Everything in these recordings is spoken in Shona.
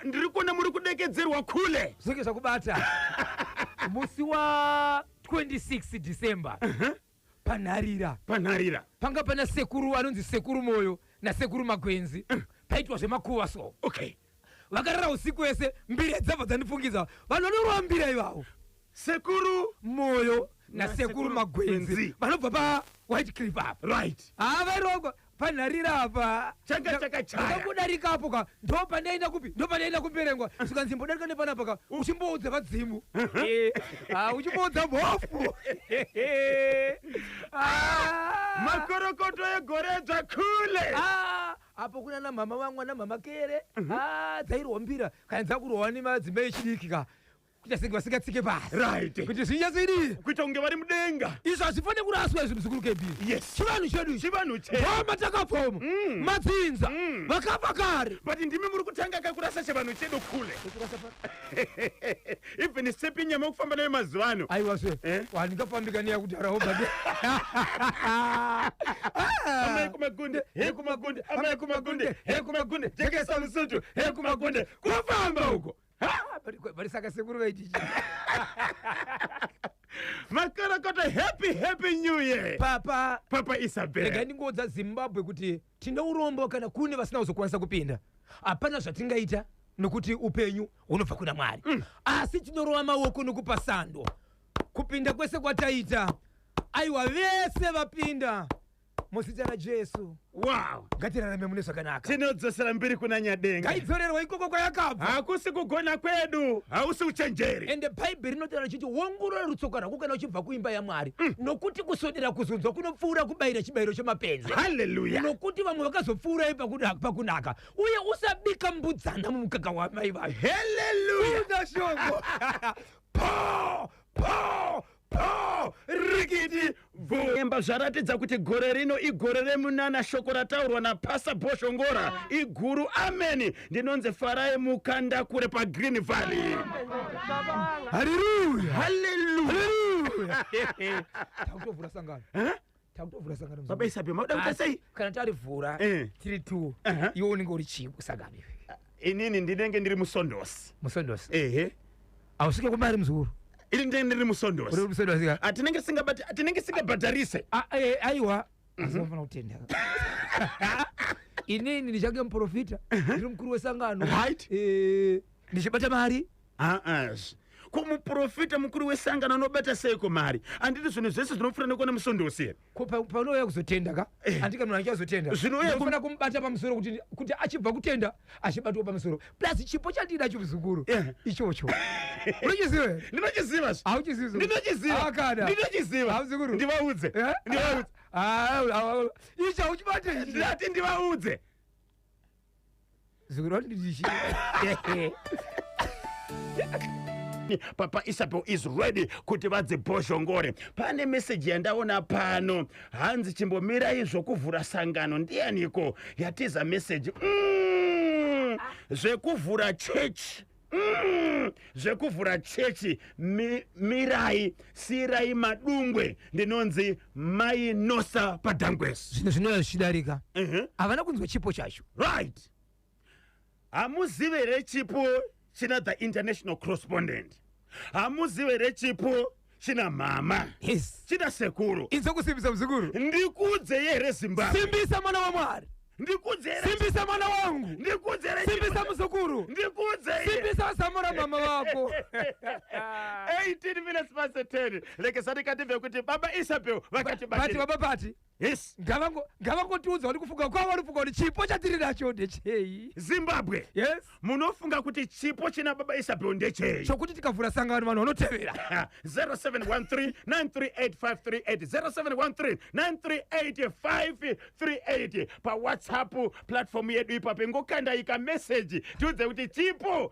ndiri kuona muri kudekedzerwa kule zvinge zvakubata musi wa 26 december uh-huh. panharira panharira panga pana sekuru anonzi sekuru moyo nasekuru magwenzi uh. paitwa zvemakuva so okay Vakarara usiku wese mbira dzabva dzandifungidza vanhu vanorova mbira ivavo. Sekuru Moyo nasekuru Magwenzi vanobva pa White Cliff apa. Right. Haa vairova panharira apa. Changa chakachaya. Ndakudarika apo ka ndopandaenda kupi ndopandaenda kuperengwa zvikanzi mbodarika nepanapa ka uchimboudza vadzimu. Eh, ah, uchimboudza mhofu. Ah. Makorokoto egore dzakule. Ah, apo kunana mhama vangu ana mhama kere mhm. ah, dzairwa mbira kana dzakurwa nemadzimba echidiki ka kuita senge vasingatsike pasi right kuti zvinyatsoidii kuita kunge vari mudenga izvo hazvifanire kuraswa izvi muzukuru kb yes chivanhu chedu chivanhu chedoma takapfoma mm. madzinza mm. vakafa kare but ndimi muri kutanga kakurasa chivanhu chedu kule even sepi nyama kufamba nayo mazuva ano aiwa zve Eh? wandingafambika neyakudhara obade amai kumagunde he kumagunde amai kumagunde he kumagunde jekesa musutu he kumagunde kufamba uko bari saka sekuru vaitichi makorokota happy happy new year papa papa rega isabel ndingoudza zimbabwe kuti tine urombo kana kune vasina kuzokwanisa kupinda hapana zvatingaita nokuti upenyu unobva kuna mwari mm. asi tinorova maoko nokupa sando kupinda kwese kwataita aiwa vese vapinda muzita rajesu wow ngatirarame mune zvakanaka tinodzosera mbiri kuna nyadenga ngaidzorerwa ikoko kwayakabva hakusi kugona kwedu hausi uchenjeri ende bhaibheri rinotaura richiti wongorora rutsoka rwako kana uchibva kuimba yamwari mm. nokuti kusodera kuzunzwa kunopfuura kubayira chibayiro chemapenzi haleluya nokuti vamwe vakazopfuura ipakunaka uye usabika mbudzana mumukaka wamai vayo haleluya Buda shoko. po po po rikiti bvu emba zvaratidza kuti gore rino igore remunana shoko rataurwa napasa boshongora iguru ameni ndinonzi farai mukanda kure pagreen valley haleluya haleluya takutovhura sangano takutovhura sangano muzukuru. baba isapi makuda kuita Asi sei kana tarivhura Eh. tiri two Aha. iwe unenge uri chii kusangano iwe inini ndinenge ndiri musondosi musondosi ehe ausvike kumari muzukuru ini ndinenge ndiri uri musondosi musondosi ka Ah, tinenge singabati ah, tinenge singabhadharise Ah, eh, aiwa asi vanofana kutenda inini ndichange muprofita ndiri mukuru wesangano Right. Eh, ndichibata mari haas ko muprofita mukuru wesangano anobata seiko mari anditi zvinhu zvese zvinopfuura nekwana musondosi here ko pa- paunouya kuzotenda ka Eh. andika munhu anenge azotenda Zvinouya ku- unofanira kumubata pamusoro kuti kuti achibva kutenda achibatwa pamusoro plus chipo chandida chimuzukuru Eh. ichocho unochiziva here? ndinochiziva zve. Hauchizivi zvikuru. ndinochiziva Akada. ndinochiziva Hamuzukuru. ndivaudze Eh? ndivaudze Ah, ah, ah, ah. ichi hauchibate ichi. ndati ndivaudze zuro ndichi papa isabel is ready kuti vadzibhozhongore pane meseji yandaona pano hanzi chimbomirai zvokuvhura sangano ndiyaniko yatiza meseji mm, zvekuvhura chechi Mm, zvekuvhura chechi mi, mirai siirai madungwe ndinonzi mai nosa padangwes zvinhu zvinouya zvichidarika Mhm. havana kunzwa chipo chacho right hamuzive here chipo china the international correspondent hamuzive here chipo china mama yes china sekuru inzwa kusimbisa muzukuru ndikudze here zimbabwe simbisa mwana wa mwari ndikudze here simbisa mwana wangu ndikudze here simbisa muzukuru ndikudze here simbisa wasamura mama vako 18 minutes past 10 lekesani kati vekuti baba isabel vakati Vati baba pati Yes. Ngavango ngavangotiudza kuti kufunga kwavo vari kufunga kuti chipo chatiri nacho ndechei. Zimbabwe. Yes. Munofunga kuti chipo china baba Isabel ndechei? Chokuti tikavhura sangano vanhu vanotevera. 0713 938 538 pa WhatsApp platform yedu ipapo ingokandai ka message tiudze kuti chipo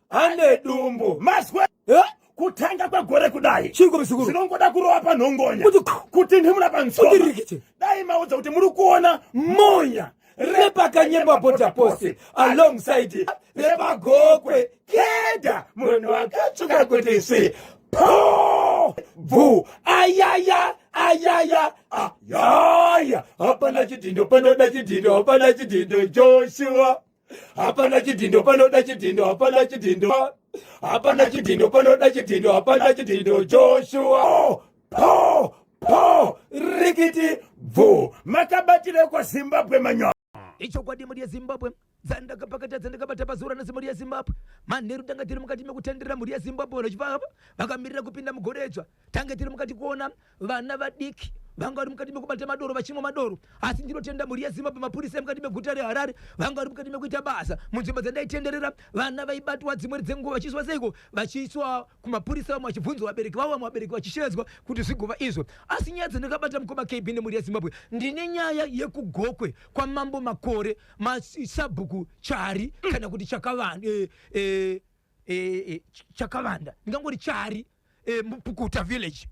ane dumbu mazwe eh? kutanga kwegore kudai zvinongoda kurova panhongonya kuti ndimuna pansoma dai maudza kuti muri kuona monya repakanyemba bota posi alongside repagokwe keda munhu akatsvuka kuti si po bvu ayaya ayaya ayaya hapana chidhindo panoda chidhindo hapana chidhindo joshua hapana chidhindo panoda chidhindo hapana chidhindo hapana chidhindo panoda chidhindo hapana chidhindo joshua oh, po po rikiti bvu makabatire kwa zimbabwe manyo ichokwadi mhuri yezimbabwe dzandakapakata dzandakabata pazuva ranasi mhuri yezimbabwe manheru tanga tiri mukati mekutenderera mhuri yezimbabwe vanochivava vakamirira kupinda mugoredzva tange tiri mukati kuona vana vadiki vanga vari mukati mekubata madoro vachimwa madoro asi ndinotenda mhuri yezimbabwe mapurisa emukati meguta reharare vanga vari mukati mekuita basa munzvimbo dzandaitenderera vana vaibatwa dzimwe dzenguva vachiiswa seiko vachiiswa kumapurisa vamwe vachibvunzwa vabereki vavo vamwe vabereki vachishevedzwa kuti zvigova izvo asi nyaya dzandakabata mukoma kb nemhuri yezimbabwe ndine nyaya yekugokwe kwamambo makore masabhuku chari kana kuti chakavanhu eh, eh, e, e, chakavanda ndingangori chari e, mupukuta village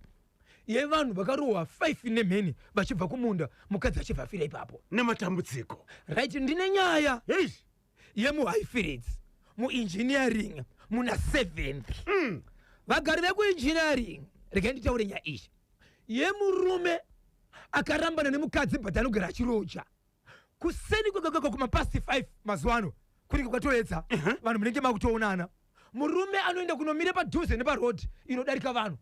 yevanhu vakarohwa 5 nemheni vachibva kumunda mukadzi achibva afira ipapo nematambudziko right ndine nyaya yemuhighfields muengineering muna 7 mm. vagari vekuengineering regai nditaure nyaya iyi yemurume akarambana nemukadzi but anogara achiroja kuseni kwekekeko kumapasti 5 mazuva ano kunenge kwatoedza vanhu munenge makutoonana murume anoenda kunomira padhuze neparodhi inodarika vanhu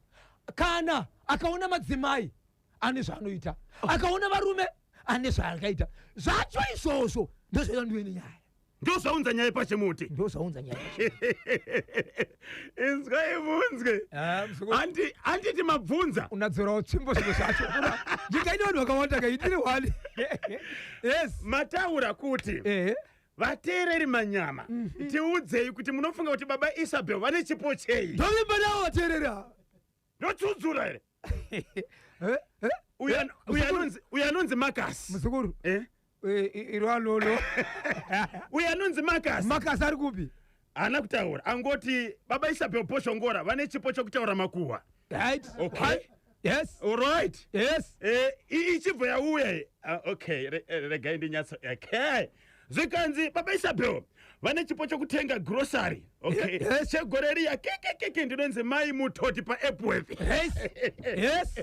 kana akaona madzimai ane zvaanoita akaona varume ane zvaakaita zvacho izvozvo ndozvoita ndiwe nenyaya ndozvaunza nyaya pashe muti ndozvaunza nyaya inzwai munzwe ah, anditi mabvunza unadzorawo tsvimbo zvimwe zvacho ndikaine vanhu vakawanda kaitiri wani yes mataura kuti eh. vateereri manyama mm -hmm. tiudzei kuti munofunga kuti baba isabel vane chipo chei ndovimba navo vateereri ava ndochudzura here Eh, eh, Uyu eh, an- uyu muzukuru- anonzi- uyu anonzi makasi muzukuru Eh? eh, i- iro alolo uyu anonzi makasi makasi ari kupi haana kutaura angoti baba isabel poshongora vane chipo chokutaura makuhwa right Okay. yes olright yes Eh, i- ichibva yauya iyi. Ah, okay re- eh, regai ndinyatso okay zvikanzi baba isabel vane chipo chokutenga grocery okay Ye- yes. chegore riya kekekeke ndinonzi mai mutoti paepworth yes yes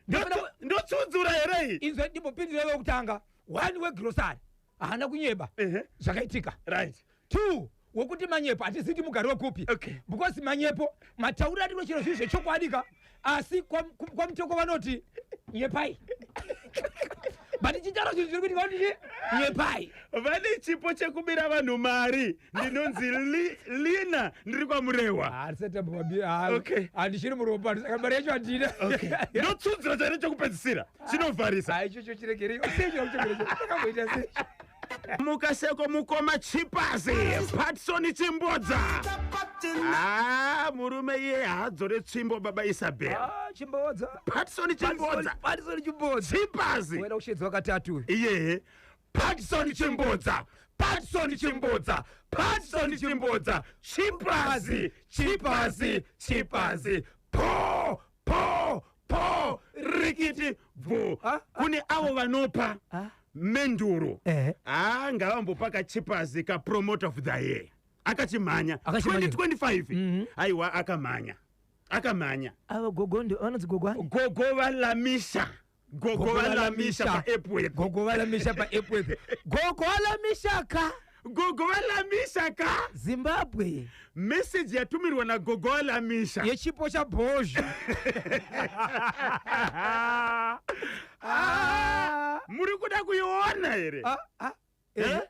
Ndotsu- ndotsudzura here iyi inzwa ndimbopindira wekutanga one wegrosari haana kunyeba Ehe. zvakaitika right two wekuti manyepo hatizivi kuti mugari wekupi okay. because manyepo mataurira ndiro chero zvinhu zvechokwadi ka asi kwamutoko vanoti nyepai but chicharo zvinhu zviri kuti vanoti nyepai vane chipo chekubira vanhu mari ndinonzi lina ndiri kwamurehwa handichiri muropa mari yacho handina ndotsunzira chaine chekupedzisira chinovharisa ichocho chiregerei muka seko mukoma chipazi patsoni chimbodza ah murume iye haadzore tsvimbo baba isabel Ah, chimbodza patsoni chimbodza patisoni chimbodza chipazi wena ushedzwa katatu uyu iye patson chimbodza patson chimbodza patson chimbodza chipazi chipazi chipazi po po po rikiti bvu Ah, ah, kune avo vanopa Ah. menduru Eh. haa ngavambopa kachipazi kapromote of the year akachimhanya Akachimhanya. 2025 aiwa akamhanya akamhanya ava gogo ndo vanonzi gogo ani gogo valamisha gogo valamisha paepworth gogo valamisha paepworth gogo valamisha ka gogo valamisha ka zimbabwe meseji yatumirwa nagogo valamisha yechipo chabhozha ah, muri kuda kuiona here ah, ah. Eh?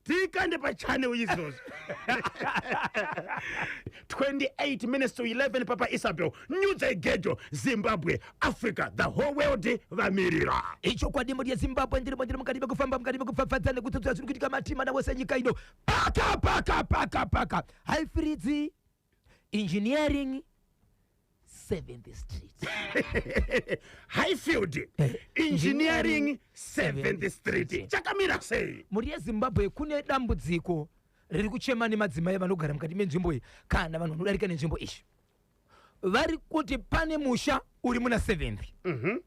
tikande pachane uizvozvo 28 minutes to 11 papa isabel nyudza igejo zimbabwe africa the whole world vamirira ichokwadi mhuri yezimbabwe ndirimo ndiri mukati mekufamba mukati mekupfapfadza nekutsotsora zviri kuitika matima navo senyika ino paka paka paka paka haifiridzi engineering 7th street highfield eh, engineering 7th street chakamira sei mhuri yezimbabwe kune dambudziko riri kuchema nemadzimai vanogara mukati menzvimbo iyi kana vanhu vanodarika nenzvimbo izvi vari kuti pane musha uri muna 7th mm -hmm.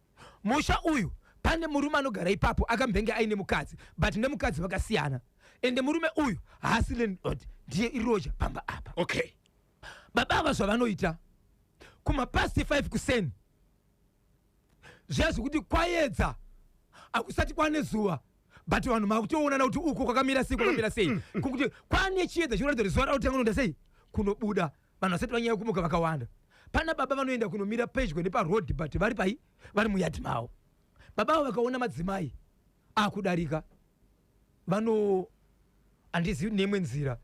musha uyu pane murume anogara ipapo akambenge aine mukadzi but nemukadzi vakasiyana ende murume uyu haasi landlord ndiye iroja pamba apa okay baba ava zvavanoita kumapast 5 kuseni zviya zvekuti kwayedza akusati kwane zuva but vanhu makutoonana kuti uku kwakamira sei kwakamira sei mm, mm, mm. kuti kwane chiedza chinoratidza kuti zuva rautanga unoda sei kunobuda vanhu vasati vanyaya kumuka vakawanda pana baba vanoenda kunomira pedyo neparoad but vari pai vari muyadhi mavo baba avo vakaona madzimai akudarika vano handizivi neimwe nzira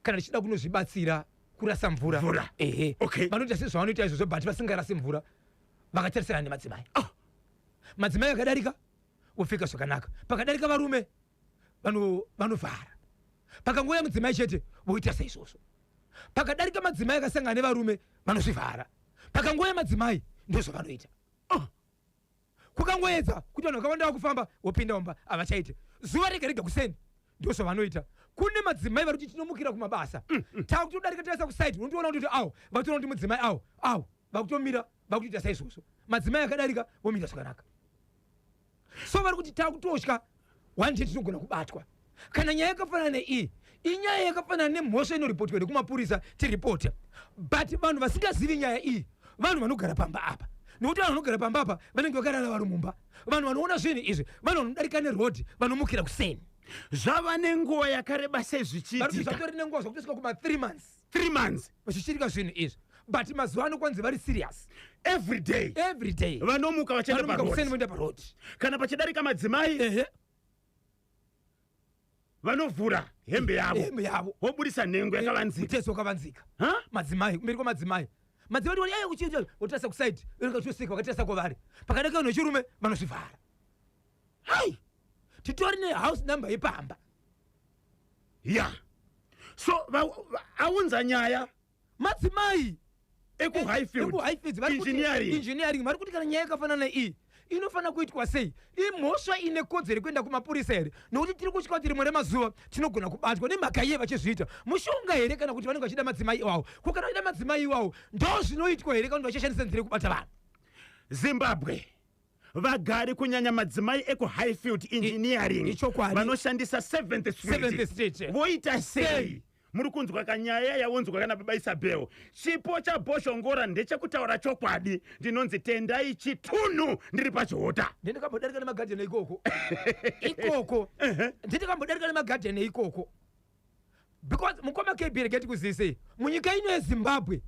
kana tichida kunozvibatsira kurasa mvura Mvura. ehe Okay. vanoita sezvavanoita izvozvo but vasingarasi mvura vakatarisana nemadzimai Ah, madzimai akadarika vopfeka zvakanaka pakadarika varume vanovhara pakangouya mudzimai chete voita saizvozvo pakadarika madzimai akasangana nevarume vanozvivhara pakangouya madzimai ndozvavanoita ah! kukangoedza kuti vanhu vakawanda vakufamba vopinda mumba havachaite zuva rega rega kuseni ndozvavanoita kune madzimai vari kuti tinomukira kumabasa mm, mm. takutodarika taisa kusaiti unotoona kuti awo vatoona kuti mudzimai awo awo vakutomira vakutoita saizvozvo madzimai akadarika vomira zvakanaka so vari kuti takutotya one day tinogona kubatwa kana nyaya yakafanana neiyi inyaya yakafanana nemhosva inoripotwa here kumapurisa tiripota but vanhu vasingazivi nyaya iyi vanhu vanogara pamba apa nokuti vanhu vanogara pamba apa vanenge vakarara vari mumba vanhu vanoona zvinhu izvi vanhu vanodarika nerodhi vanomukira kuseni zvava nenguva yakareba sei zvichiitika zvatori nenguva zvakutosvika kuma 3 months three months vachichitika zvinhu izvi but mazuva ano kwanzi vari serious every day every day vanomuka vachienda Vanomuka kuseni paroad voenda paroad kana pachidarika madzimai ehe vanovhura hembe yavo hembe yavo voburitsa nhengo yakavanzika mutezo wakavanzika Ha? madzimai kumberi kwamadzimai madzimai ndiwani aye kuchiita votarisa kusaidi vakatosika vakatarisa kwavari pakadaka vanhu vechirume vanozvivhara hai titori nehouse number yepamba ya yeah. so aunza nyaya madzimai ekuhighfieldengineering vari kuti kana nyaya yakafanana iyi inofanira kuitwa sei imhosva ine kodzero yekuenda kumapurisa here nokuti tiri kutya kuti rimwe remazuva tinogona kubatwa nemhaka iye vachizviita mushonga here kana kuti vanenge vachida madzimai iwawo ko kana vachida madzimai iwawo ndo zvinoitwa here kana kuti vachashandisa nzira yekubata vanhu zimbabwe vagari kunyanya madzimai ekuhighfield engineering vanoshandisa seventh street eh. voita sei muri kunzwa kanyaya yaunzwa kana baba isabel chipo chaboshongora ndechekutaura chokwadi ndinonzi tendai chitunhu ndiri pachihota ndindikambodarika nemagadheni ikoko ikoko ndindikambodarika nemagadheni ikoko because mukoma kb rega tikuzisei munyika ino yezimbabwe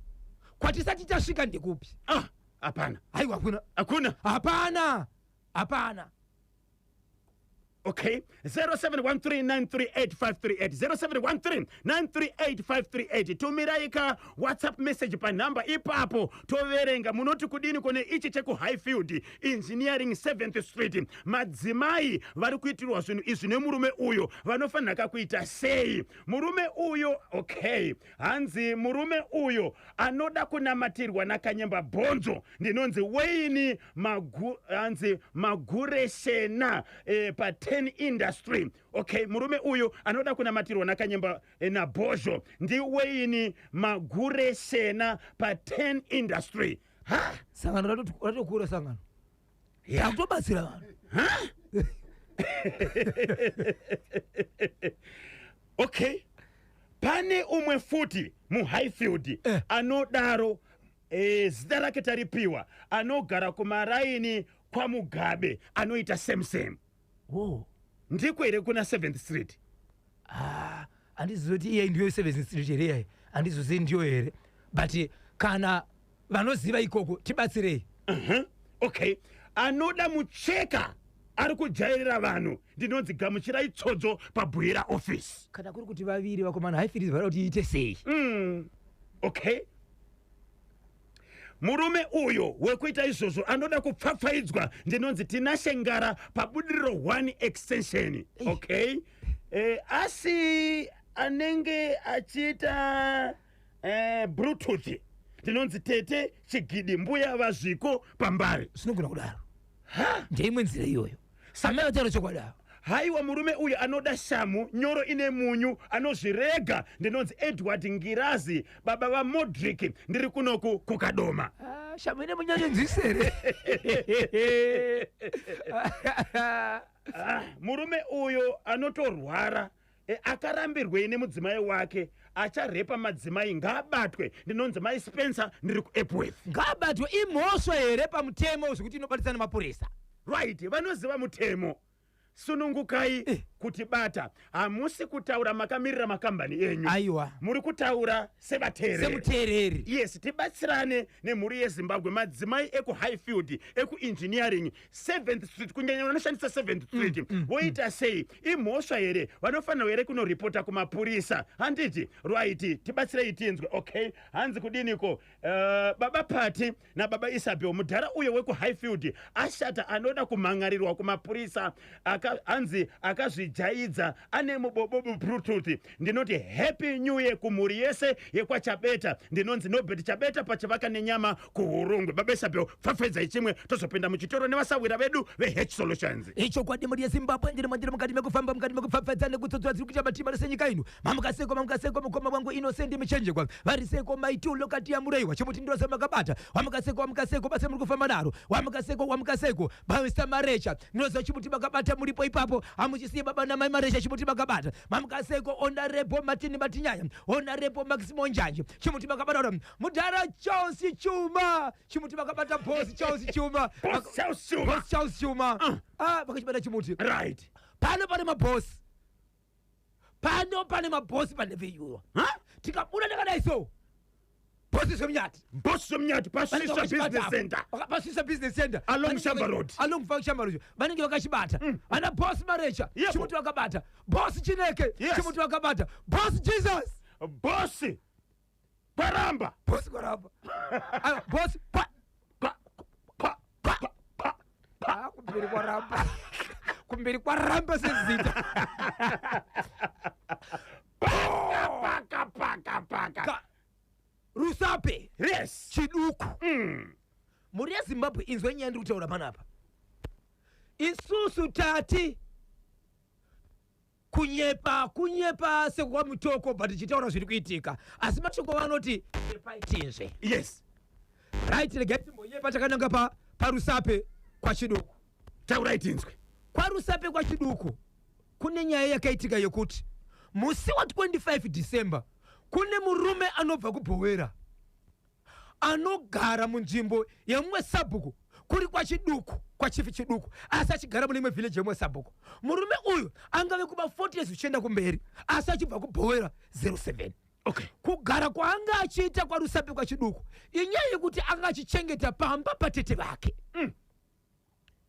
kwatisati tasvika ndekupi ah hapana haiwa hakuna hakuna hapana hapana okay 0713938538 0713938538 tumirai ka whatsapp message panhamba ipapo toverenga munoti kudini kune ichi chekuhighfield engineering 7th street madzimai vari kuitirwa zvinhu izvi nemurume uyo vanofanira kakuita sei murume uyo okay hanzi murume uyo anoda kunamatirwa nakanyemba bhonzo ndinonzi weini magu, hanzi magureshena eh, pa 10 industry okay murume uyo anoda kunamatirwa nakanyemba eh, nabhozho ndiweini magureshena pa 10 industry Ha? sangano rato- ratokura sangano Yeah. takutobatsira vanhu okay pane umwe futi muhighfield Eh. anodaro eh, zita rake taripiwa anogara kumaraini kwamugabe anoita same same oh ndiko here kuna seventh street ah andizive kuti iye ndiyo seventh street here iyayi andizozive ndiyo here but kana vanoziva ikoko tibatsirei uh -huh. okay anoda mucheka ari kujairira vanhu ndinonzi gamuchirai tsodzo pabhuira office kana kuri kuti vaviri vakomana haifirizi vada kuti iite sei mm. okay murume uyo wekuita izvozvo anoda kupfapfaidzwa ndinonzi tinashe ngara pabudiriro 1 extension okay eh, asi anenge achiita eh, bluetooth ndinonzi tete chigidi mbuya vazviko pambari zvinogona kudaro ndeimwe nzira iyoyo amai vataura chokwadi ava haiwa murume uyu anoda shamhu nyoro ine munyu anozvirega ndinonzi edward ngirazi baba vamodrick ndiri kunoku kukadoma Ah, shamhu ine munyanyo nzwisere Ah, murume uyu anotorwara E, akarambirwei nemudzimai wake acharepa madzimai ngaabatwe ndinonzi mai spencer ndiri kuepworth ngaabatwe imhosva here pamutemo zvekuti inobatisa nemapurisa right vanoziva mutemo sunungukai eh. kuti bata hamusi kutaura makamirira makambani enyu aiwa muri kutaura sevateererisemuteereri yes tibatsirane nemhuri yezimbabwe madzimai ekuhighfield ekuengineering seventh street kunyanya vanoshandisa seventh mm, street mm, mm. voita sei imhosva here vanofanirwa here kunoripota kumapurisa handiti rwaiti tibatsirei tinzwe okay hanzi kudiniko uh, baba pati nababa isabel mudhara uyo wekuhighfield ashata anoda kumhan'arirwa kumapurisa hanzi aka akazvijaidza ane mubobobo bluetooth Ndinoti happy new year kumhuri yese yekwaChabeta. Ndinonzi Nobert Chabeta pachivaka nenyama kuHurungwe. Babesabeo pfapfaidzai chimwe tozopinda muchitoro nevasahwira vedu veH Solutions. Ichokwadi mhuri yeZimbabwe ndiri mandiri mukati mekufamba mukati mekupfapfaidza nekutsodzora dziri kuita matima rese nyika ino. Mamuka seko mamuka seko mukoma wangu Innocent Michenjegwa. Vari seko mai two lokati yamureiwa chimuti ndose makabata. Wamuka seko wamuka seko basa muri kufamba naro. Wamuka seko wamuka seko. Bamista Marecha, ndinoziva chimuti makabata muripo ipapo, hamuchisiye baba namai Marecha chimuti makabata. Mamukaseko Honorable Martin Matinyaya, Honorable Maximo Njanje, chimuti makabata ora. Mudhara Charles Chuma, chimuti makabata boss Charles Chuma. Boss Charles Chuma. Boss Charles Chuma. Ah, vakachibata chimuti. Right. Pano pane maboss. pano pane mabhosi pandeveyuwa tikabuda ndakadai so bhosi zvemunyati bhosi zvemunyati pasvisa business center pasvisa business center along shamba road along fa shamba road vanenge vakachibata mm. ana bhosi marecha chimuti vakabata bhosi chineke chimuti vakabata bhosi jesus bhosi kwaramba bosi kwaramba Ah, bosi pa Pa- pa- pa- pa- pa- Ah, kumberi kwaramba kumberi kwaramba sezita paka paka paka Ka- rusape yes chiduku Mm. mhuri yezimbabwe inzwa nyaya ndiri kutaura panapa isusu tati kunyepa kunyepa sekwamutoko but tichitaura zviri kuitika asi mashoko vanoti nyepai tinzve yes right regai timbonyepa takananga pa parusape kwachiduku taurai tinzwe kwarusape kwachiduku kune nyaya yakaitika yekuti musi wa 25 december kune murume anobva kubhowera anogara munzvimbo yemumwe sabhuku kuri kwachiduku kwachifi chiduku asi achigara mune imwe village yemumwe sabhuku murume uyu angave kuba 40 years zvichienda kumberi asi achibva kubhowera 07 okay. kugara kwaanga achiita kwarusape kwachiduku inyaya yekuti anga achichengeta pamba patete vake mm.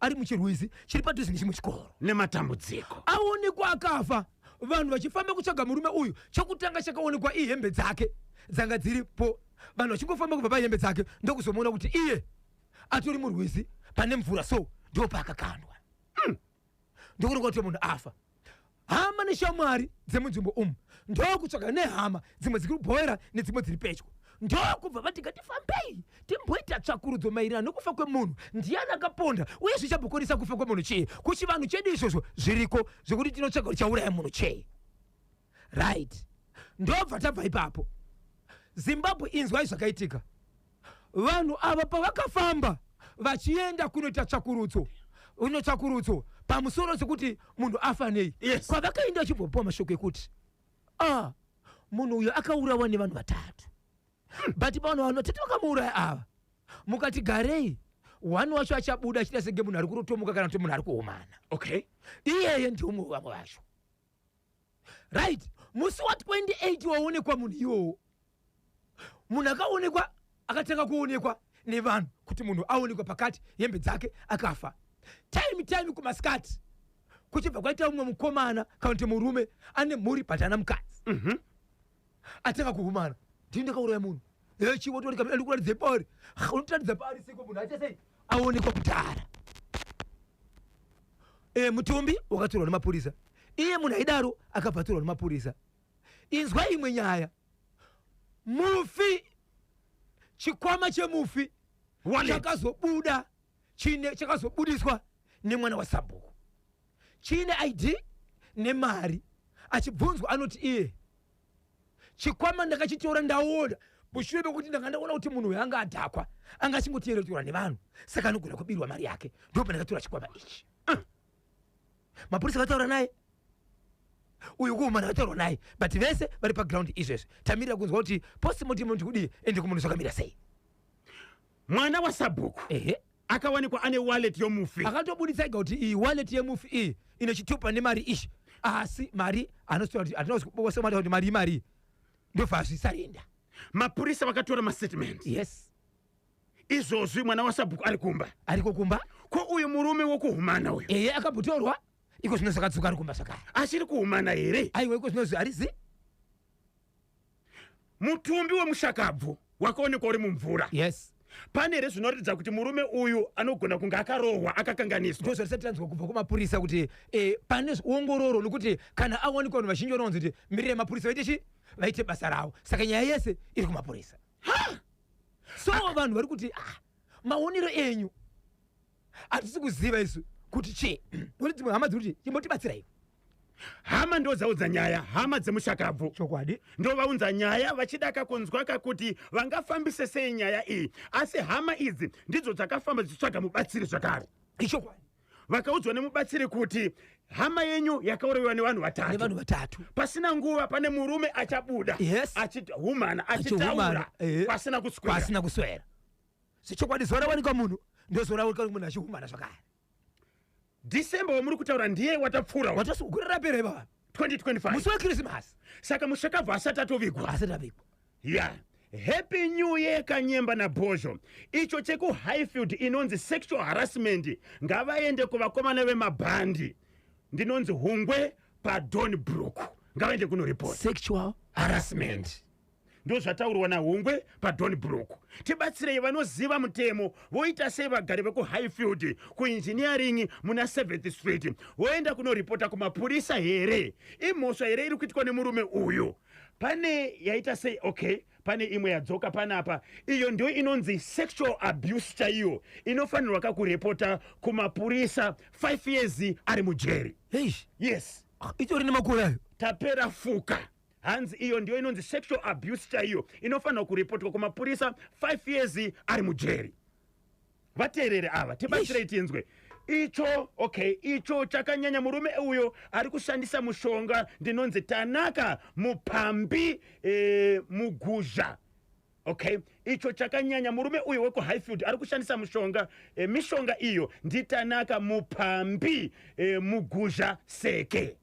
ari muchirwizi chiri padhuze nechimwe chikoro nematambudziko aonekwa akafa vanhu vachifamba kutsvaga murume uyu chokutanga chakaonekwa ihembe dzake dzanga dziripo vanhu vachingofamba kubva pahembe dzake ndokuzomuona kuti iye atori murwizi pane mvura so ndo paakakandwa hmm. ndokuonekwa kuti munhu afa hama neshamwari dzemunzvimbo umu ndokutsvaga nehama dzimwe dziri kubhowera nedzimwe dziri pedyo ndokubva vati ngatifambei timboita tsvakurudzo maererano nokufa kwemunhu ndiyani akaponda uye zvichambokonesa kufa kwemunhu chii kuchivanhu chedu izvozvo zviriko zvekuti tinotsvaga kuti chauraya munhu chii right ndobva tabva ipapo zimbabwe inzwai zvakaitika vanhu ava pavakafamba vachienda kunoita tsvakurudzo uno tsvakurudzo pamusoro sekuti munhu afa nei yes. kwavakaenda vachibvopiwa mashoko ekuti ah, munhu uyo akaurawa nevanhu vatatu hmm. but pavanhu vanhu vatatu vakamuuraya ava mukati garei one wacho achabuda achida senge munhu ari kurotomuka kana kuti munhu ari kuomana okay iyeye ndiumwe wevamwe vacho right musi wa 28 waonekwa munhu iwowo munhu akaonekwa akatanga kuonekwa nevanhu kuti munhu aonekwa pakati hembe dzake akafa time time kumasikati kuchibva kwaita umwe mukomana kana kuti murume ane mhuri but ana mukadzi atanga kuhumana ndini ndakauraya munhu echi wotori kamira ndikuratidze paari unotiratidza paari siko munhu aita sei aonekwa kudhara e, mutumbi wakatorwa nemapurisa iye munhu aidaro akabva atorwa nemapurisa inzwa imwe nyaya mufi chikwama chemufi chakazobuda chine chakazobudiswa nemwana wasabhuku chine id nemari achibvunzwa anoti iye chikwama ndakachitora ndaona mushure mekuti ndanga ndaona kuti munhu uyo anga adhakwa anga achingoteeretorwa nevanhu saka anogona kubirwa mari yake ndipo pandakatora chikwama ichi uh. mapurisa akataura naye uyu kuhuma ndakataurwa naye but vese vari paground izvezvi tamirira kunzwa kuti postmortem ndikudii ende kumunhu zvakamira sei mwana wasabhuku ehe akawanikwa ane wallet yomufi akatobuditsa ega kuti iyi wallet yemufi iyi ine chitupa nemari ichi asi mari anositira kuti hatina kuzibosa mari kuti mari imari ndobva azvisarenda mapurisa vakatora mastatement yes izvozvi mwana wasabhuku ari kumba ariko kumba ko uyu murume wokuhumana uyu eye akambotorwa iko zvino zvakadzoka ari kumba zvakare achiri kuhumana here aiwa iko zvino zvi- harizi mutumbi wemushakabvu wakaonekwa uri mumvura yes pane here zvinoratidza kuti murume uyu anogona kunge akarohwa akakanganiswa ndozvarisati tanzwa kubva kumapurisa kuti eh, pane ongororo nokuti kana awanikwa vanhu vazhinji vanowanzi kuti mirira yemapurisa vaite chi vaite basa ravo saka nyaya yese iri kumapurisa so vanhu vari kuti ah, maonero enyu hatisi kuziva isu kuti chii kuti dzimwe hama dziri kuti chimbotibatsirai hama ndodzaudza nyaya hama dzemushakabvu chokwadi ndovaunza nyaya vachida kakunzwa kakuti vangafambise sei nyaya iyi asi hama idzi ndidzo dzakafamba dzichitsvaga mubatsiri zvakare ichokwadi vakaudzwa nemubatsiri kuti hama yenyu yakaurayiwa nevanhu vatatu vatatu pasina nguva pane murume achabuda yes. achihumana achitaura eh. pasina kuswera sechokwadi zuva rawanikwa munhu ndozuva rawanikwa munhu achihumana zvakare december wamuri kutaura ndiye watapfuura watagore rapera ivava 2025 musi wekrisimasi saka mushakabva asati atovigwa asati avigwa ya yeah. happy new year kanyemba nabhozho icho chekuhighfield inonzi sexual harassment ngavaende kuvakomana vemabhandi ndinonzi hungwe padon brook ngavaende kunoripota sexual harassment, harassment. ndozvataurwa nahongwe padon brook tibatsirei vanoziva mutemo voita sei vagari vekuhighfield kuinjiniyaringi muna 7th street voenda kunoripota kumapurisa here imhosva here iri kuitwa nemurume uyu pane yaita sei okay pane imwe yadzoka panapa iyo ndiyo inonzi sexual abuse chaiyo inofanirwa kakurepota kumapurisa 5 years ari mujeri yes ah, itori nemakore ayo tapera fuka hanzi iyo ndiyo inonzi sexual abuse chaiyo inofanirwa kuripotwa kumapurisa 5 years ari mujeri vateerere ava tibatsirei tinzwe icho okay icho chakanyanya murume uyo ari kushandisa mushonga ndinonzi tanaka mupambi e, muguzha okay icho chakanyanya murume uyo wekuhighfield ari kushandisa mushonga e, mishonga iyo nditanaka mupambi e, muguzha seke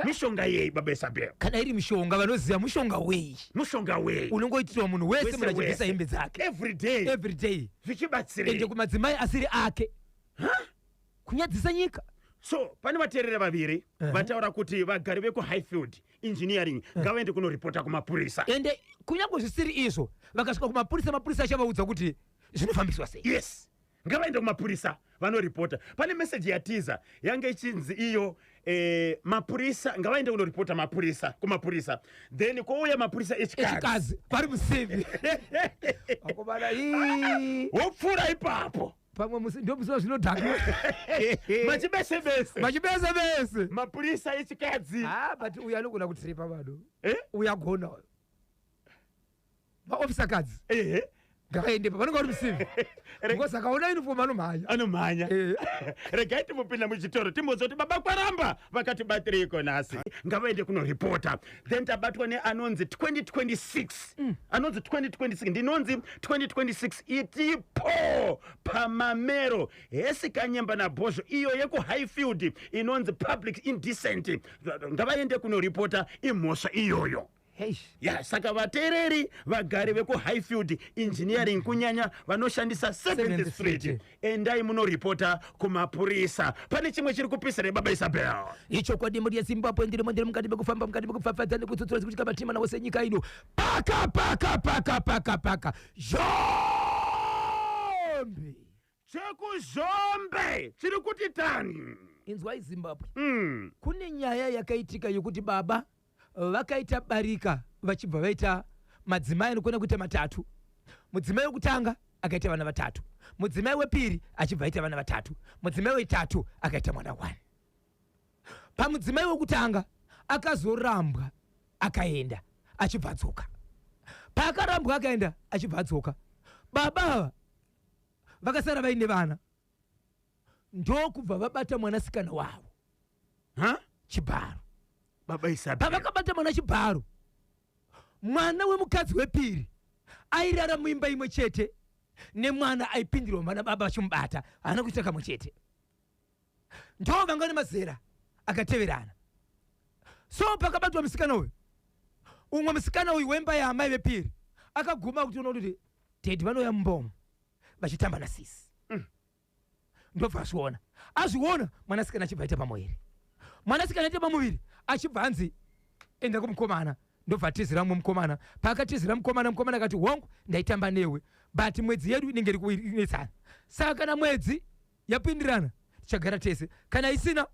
mushonga yei baba isabel kana iri mushonga vanoziva mushonga wei mushonga wei unongoitirwa munhu wese munhu achibvisa hembe dzake everyday everyday zvichibatsira ende kumadzimai asiri ake kunyadzisa nyika so pane vateerera vaviri uh -huh. vataura kuti vagari vekuhighfield engineering uh-huh. ngavaende uh -huh. kunoripota kumapurisa ende kunyange zvisiri izvo vakasvika kumapurisa mapurisa achavaudza kuti zvinofambiswa sei yes Ngavaende kumapurisa vanoripota. Pane message yatiza yange ichinzi iyo eh, mapurisa ngavaende kunoripota mapurisa kumapurisa then kwouya mapurisa echikazi echikazi vari musevi vakomana ii wopfuura ipapo pamwe musi ndio musiwa zvinodhakwa machibese bese machibese bese mapurisa echikadzi ah but uyu anogona kutripa vanhu eh? uyu agona uyu maofisa kadzi ehe ngavaende pa vanenge vari musivi because akaona uniform anomhanya anomhanya Eh. regai timbopinda muchitoro timbonzwa kuti baba kwaramba vakati batiriko nhasi ngavaende kunoripota then tabatwa neanonzi 2026 anonzi 2026 ndinonzi 2026 itipo pamamero hesi kanyemba nabhozho iyo yekuhighfield inonzi public indecent ngavaende kunoripota imhosva iyoyo ya saka vateereri vagari vekuhighfield engineering kunyanya vanoshandisa 7th street endai munoripota kumapurisa pane chimwe chiri kupisa nebaba isabel ichokwadi mhuri yezimbabwe ndirimo ndiri mukati mekufamba mukati mekupfapfadza nekutsutsura zikutika matima navo senyika ino paka paka paka paka paka zhombi chekuzhombe chiri kuti tani inzwai zimbabwe mm. kune nyaya yakaitika yokuti baba vakaita barika vachibva vaita madzimai anokona kuita matatu mudzimai wekutanga akaita vana vatatu mudzimai wepiri achibva aita vana vatatu mudzimai wetatu akaita mwana one pamudzimai wekutanga akazorambwa akaenda achibva adzoka paakarambwa akaenda achibva adzoka baba ava vakasara vaine vana ndokubva vabata mwanasikana wavo ha chibharo baba isapi pavakabata mwana chibharo mwana wemukadzi wepiri airara muimba imwe chete nemwana aipindirwa mwana baba vachimubata haana kuita kamwe chete ndo vanga ne mazera akateverana so pakabatwa musikana uyu umwe musikana uyu wemba yaamai vepiri akaguma kuti unoona kuti dedi vanouya mumbomo vachitamba na sisi mm. ndobva azviona azviona mwanasikana achibva aita pamuviri mwanasikana aita pamuviri achibva anzi enda kumukomana ndobva atizira mumwe mukomana paakatizira mukomana mukomana akati hongu ndaitamba newe but mwedzi yedu inenge iri kuinetsana saka kana mwedzi yapindirana tichagara tese kana isina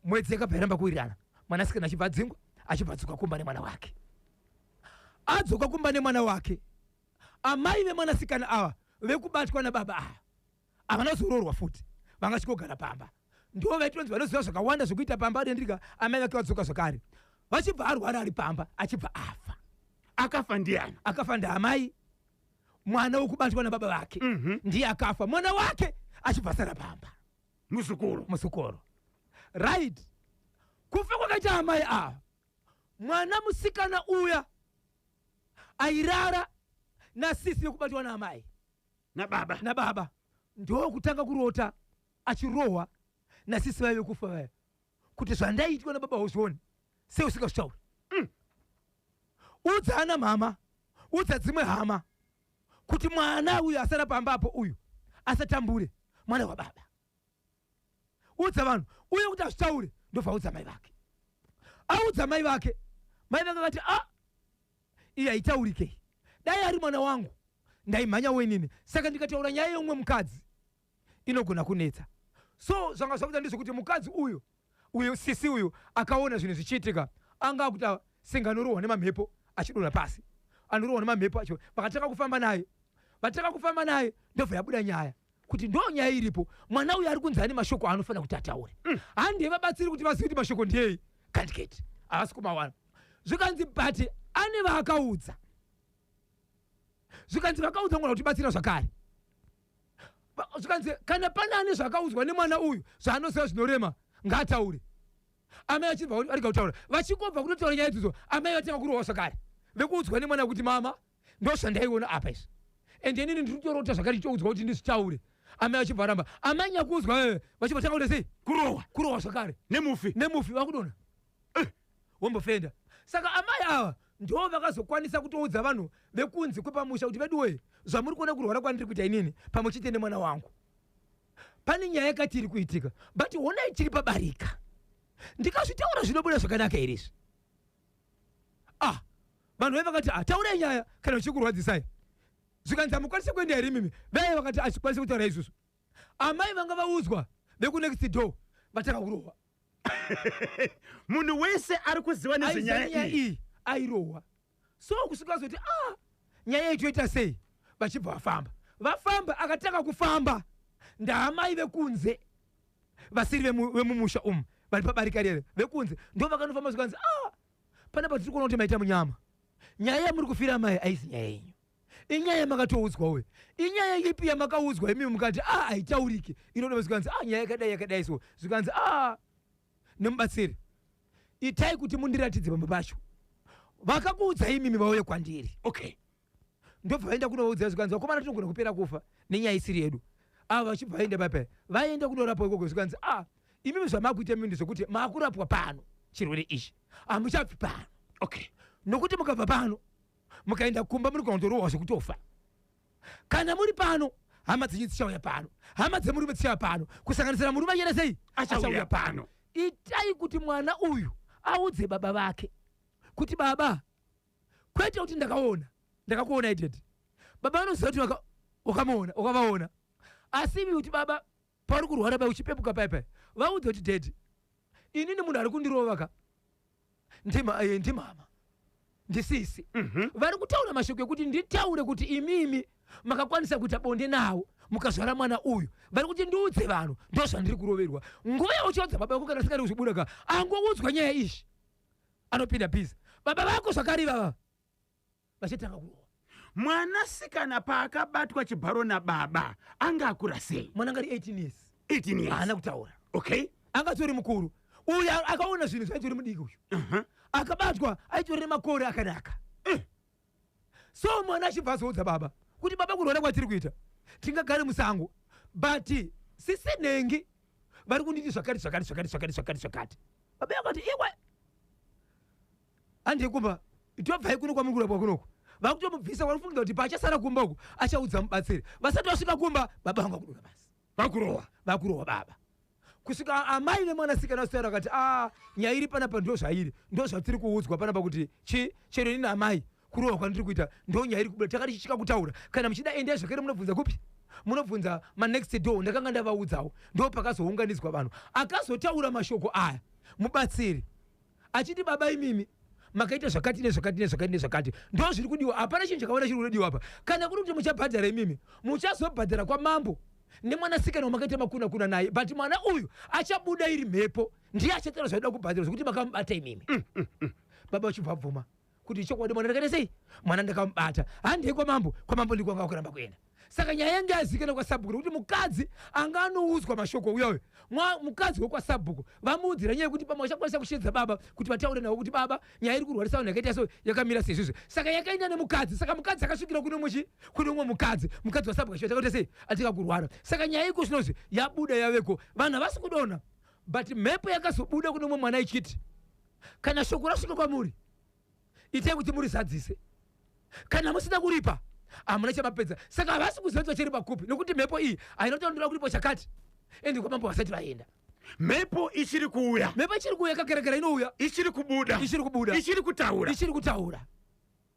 mwedzi yakabva yaramba kuwirirana mwanasikana achibva adzingwa achibva adzoka kumba nemwana wake adzoka kumba nemwana wake amai vemwanasikana ava vekubatwa nababa ava havana kuzoroorwa futi vanga chikogara pamba ndo vaitonzi vanoziva zvakawanda zvekuita pamba adendrika amai vake vadzoka zvakare vachibva arwara ari pamba achibva afa akafa ndiani akafa ndaamai mwana wekubatwa nababa vake Mhm. ndiye akafa mwana wake achibva asara pamba muzukuru muzukuru right kufa kwakaita amai ava mwana musikana uya airara nasisi yekubatwa naamai nababa nababa ndokutanga kurota achirohwa nasisi vaive kufa vaya kuti zvandaitwa nababa hozvione sei usingazvitauri mm. udza ana mhama udza dzimwe hama kuti mwana uyu asara pamba apo uyu asatambure mwana wababa udza vanhu uye kuti azvitaure ndobva audza mai vake audza mai vake mai vake akati a iyi haitaurikei dai ari mwana wangu ndaimhanya wenini saka ndikataura nyaya yeumwe mukadzi inogona kunetsa so zvanga zvakuita ndezvekuti mukadzi uyu uyu sisi uyu akaona zvinhu zvichiitika anga akuti senga anorohwa nemamhepo achidonha pasi anorohwa nemamhepo acho vakatanga kufamba naye vatanga kufamba naye ndobva yabuda nyaya kuti ndo nyaya iripo mwana uyu ari kunzi ane mashoko aanofanira kuti ataure mm. handei vabatsiri kuti vazivi kuti mashoko ndiyei kandiketi havasi kumawana zvikanzi but ane vaakaudza zvikanzi vakaudza mwana kuti batsira zvakare zvikanzi kana pane ane zvakaudzwa nemwana uyu zvaanoziva zvinorema ngaataure amai vachibva varega kutaura vachingobva kunotaura nyaya idzidzo amai vatanga kurohwa zvakare vekuudzwa nemwana kuti mama ndozvandaiona apa izvi and inini ndiri kutorota zvakare ndichoudzwa kuti ndizvitaure amai vachibva varamba amai nyakuudzwa eh, vachibva tanga kuti sei kurohwa kurohwa zvakare nemufi nemufi vakudona wambofenda saka amai ava ndo vakazokwanisa kutoudza vanhu vekunzi kwepamusha kuti veduwee zvamuri kuona kurwara kwandiri kuita inini pamwe chete nemwana wangu pane nyaya yakati iri kuitika but honai chiri pabarika ndikazvitaura zvinobuda zvakanaka here izvi ah vanhu vaye vakati ah taurai nyaya kana zvichikurwadzisai zvikanzi hamukwanise kuenda here mimi vaye vakati achikwanise kutaura izvozvo amai vanga vaudzwa vekunext door vatanga kurohwa munhu wese ari kuziva nezvenyaya iyi airohwa so kusvika zoti ah nyaya iyi toita sei vachibva vafamba vafamba akatanga kufamba ndaamai vekunze vasiri vemumusha umu vari pabarika rere vekunze ndo vakanofamba zvikanzi ah panapa tiri kuona kuti maita munyama nyaya yamuri kufira mai aisi nyaya yenyu inyaya yamakatoudzwa uye inyaya ipi yamakaudzwa imi mukati a ah, haitaurike inoda zvikanzi a ah, nyaya yakadai yakadai so zvikanzi a ah, nemubatsiri itai kuti mundiratidze pamba pacho vakakuudza imimi vauye kwandiri okay ndobva vaenda kunovaudza zvikanzi vakomana tinogona kupera kufa nenyaya isiri yedu ava vachibva vaenda pape vaenda kunorapwa ikoko zvikanzi a ah, imimi zvamakuita imimi ndezvekuti makurapwa pano chirwere ichi hamuchabvi pano okay nokuti mukabva pano mukaenda kumba muri kunotorohwa zvekutofa kana muri pano hama dzenyu dzichauya pano hama dzemurume dzichauya pano kusanganisira murume anyere sei achauya pano itai kuti mwana uyu audze baba vake kuti baba kwete kuti ndakaona ndakakuona ided baba vanoziva kuti waka- wakamuona wakavaona asi ivi kuti baba Pauri kurwara paya uchipepuka paya paya vaudze kuti daddy inini munhu ari kundirova ka ndima eh, ndimama ndisisi Mhm. vari kutaura mashoko ekuti nditaure kuti imimi makakwanisa kuita bonde nawo mukazvara mwana uyu vari kuti ndiudze vanhu ndo zvandiri kuroverwa nguva yauchaudza baba vako kana sikari kuzvibuda ka angoudzwa nyaya izvi anopinda bhizi baba vako zvakare ivava vachatanga kurohwa mwanasikana paakabatwa chibharo nababa anga akura sei mwana ngari 18 years 18 years haana kutaura okay anga tori mukuru uyu a- akaona zvinhu zvaitori mudiki uyu uh-huh. akabatwa aitorere makore akanaka Eh. so mwana achibva azoudza baba kuti baba kurwara kwatiri kuita tingagare musango but sisi nhengi vari kunditi zvakati zvakati zvakati zvakati zvakati zvakati baba yakati iwe Handei kumba, tobvai kuno kwamuri kurapwa kunoko. Vakutomubvisa wanofungira kuti paachasara kumba uku achaudza mubatsiri. Vasati vasvika kumba, baba vangu vakudura basi. Vakurowa, vakurowa baba. Kusvika amai nemwanasikana vasitaura vakati ah nyaya iri panapa ndo zvairi ndo zvatiri kuudzwa panapa kuti chi chero ini naamai kurohwa kwandiri kuita ndo nyaya iri kubuda takati chichika kutaura kana muchida endai zvakare munobvunza kupi munobvunza manext door ndakanga ndavaudzawo ndo pakazounganidzwa vanhu akazotaura mashoko aya mubatsiri achiti baba imimi makaita zvakati nezvakati nezvakati nezvakati ndo zviri kudiwa hapana chinhu chakawanda chiri kunodiwa apa kana kuri kuti muchabhadhara imimi muchazobhadhara kwamambo nemwanasikana wamakaita makuna kuna naye but mwana uyu achabuda iri mhepo ndiye achataura zvaida kubhadhara zvekuti makamubata imimi mm, mm, mm. baba vachibva bvuma kuti chokwadi mwana ndakaita sei mwana ndakamubata handei kwamambo kwamambo ndiko anga kuramba kuenda saka nyaya yange yazikana kwasabhuku nekuti mukadzi anga anoudzwa mashoko uya uyo Mwa- mukadzi wekwasabhuku vamuudzira nyaya yekuti pamwe vachakwanisa kushedza baba kuti vataure navo kuti baba nyaya iri kurwarisa vanhu yakaita so yakamira seizvizvi saka yakaenda nemukadzi saka mukadzi akasvikira kune umwe chi kune umwe mukadzi mukadzi wasabhuku achiti akaita sei atika kurwara saka nyaya iko zvinozvi yabuda yaveko vanhu havasi kudona but mhepo yakazobuda kune umwe mwana ichiti kana shoko rasvika kwamuri itai kuti murizadzise kana musina kuripa hamuna chamapedza saka havasi kuziva kuti vachiripa kupi nokuti mhepo iyi haina kuti vanotoda kuripa chakati endi kwamambo vasati vaenda mhepo ichiri kuuya mhepo ichiri kuuya kakerekera inouya ichiri kubuda ichiri kubuda ichiri kutaura ichiri kutaura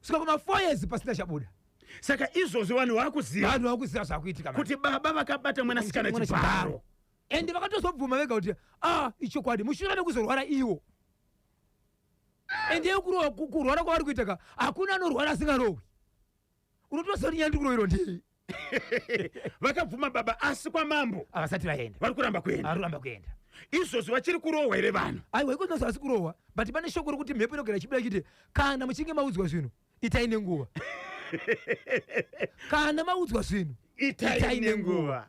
saka kuma four years pasina chabuda saka izvozvi vanhu vakuziva vanhu vakuziva zvakuitika kuti baba vakabata mwana sikana chibharo ende vakatozobvuma vega kuti ah ichokwadi mushure mekuzorwara iwo ende kurwara kwavari kuita ka hakuna anorwara asingarohwi unotoziva kuti nyaya ndiri kuroverwa ndei vakabvuma baba asi kwamambo havasati vaenda vari kuramba kuenda vari kuramba kuenda izvozvi vachiri kurohwa here vanhu aiwa iko zvinonzi havasi kurohwa but pane shoko rokuti mhepo inogara ichibuda ichiti kana muchinge maudzwa zvinhu itai nenguva kana maudzwa zvinhu itai nenguva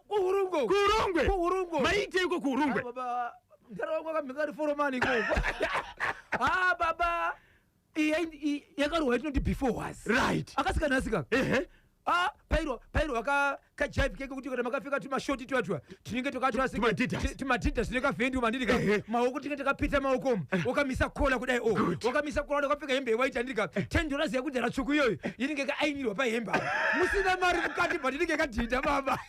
kuhurungwe kuhurungwe kuhurungwe maite iko kuhurungwe baba ndarawa kwakamheka ri foromani iko ha baba yakarohwa itinoti before was right akasika nasika ehe Ah, pairo pairo waka kajive keke kuti kana makafika tumashoti twatwa tinenge twakatwatimadida tine kavhendi umandirika maoko tinenge takapita maoko wakamisa kola kudai o wakamisa kola wakapfeka hembe yewaiti andirika ten dollars yakudhara tsvuku iyoyo inenge yakaainirwa pahembe apa musina mari mukati but inenge yakadhinda baba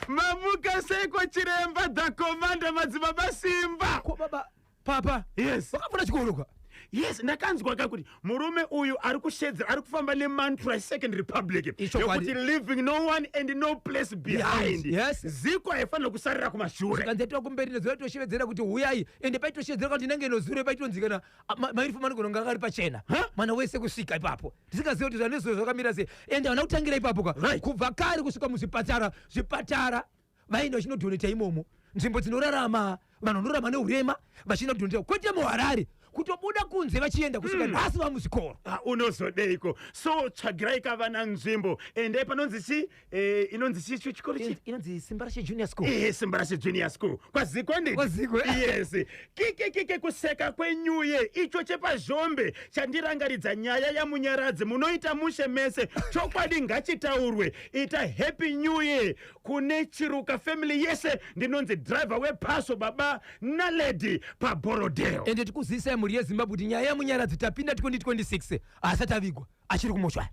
mamuka seiko chiremba the commander madzibaba simba ko baba papa yes wakapfuura chikoro kwa yes ndakanzwa ka kuti murume uyu ari kushedzera ari kufamba nemantra esecond republic Ichokwadi. yokuti living no one and no place behind Yes, yes. ziko haifanira kusarira kumashure kanzi yatova kumberi nezuva yatoshevedzeera kuti huyai ende paitosheedzera kuti ndinenge inozuro paitonzikana Ah, ma- mairi fuma anogona kunge akari pachena Huh? mwana wese kusvika ipapo ndisingazive kuti zvanezuve zvakamira sei ende havana kutangira ipapo ka Right. kubva kare kusvika muzvipatara zvipatara vaenda vachinodhoneta imomo nzvimbo dzinorarama vanhu vanorarama neurema vachienda kudhoneta kwete muharare kutobuda kunze vachienda kusvika nhasi vamuzvikoro Ah, unozodeiko so tsvagirai ka vana nzvimbo endai panonzi chi Eh, inonzi chi- chi- chikoro chi inonzi simba rashe junior school Eh, simba rashe junior school kwaziko ndi Kwaziko. yes kike kike kuseka kwenyuye icho chepazhombe chandirangaridza nyaya yamunyaradzi munoita mushe mese chokwadi ngachitaurwe ita happy new year kune chiruka family yese ndinonzi driver wephaso baba naledi paborodeo ende tikuzivisa mhuri yezimbabwe kuti nyaya yamunyaradzi tapinda 2026 haasati avigwa achiri kumochwari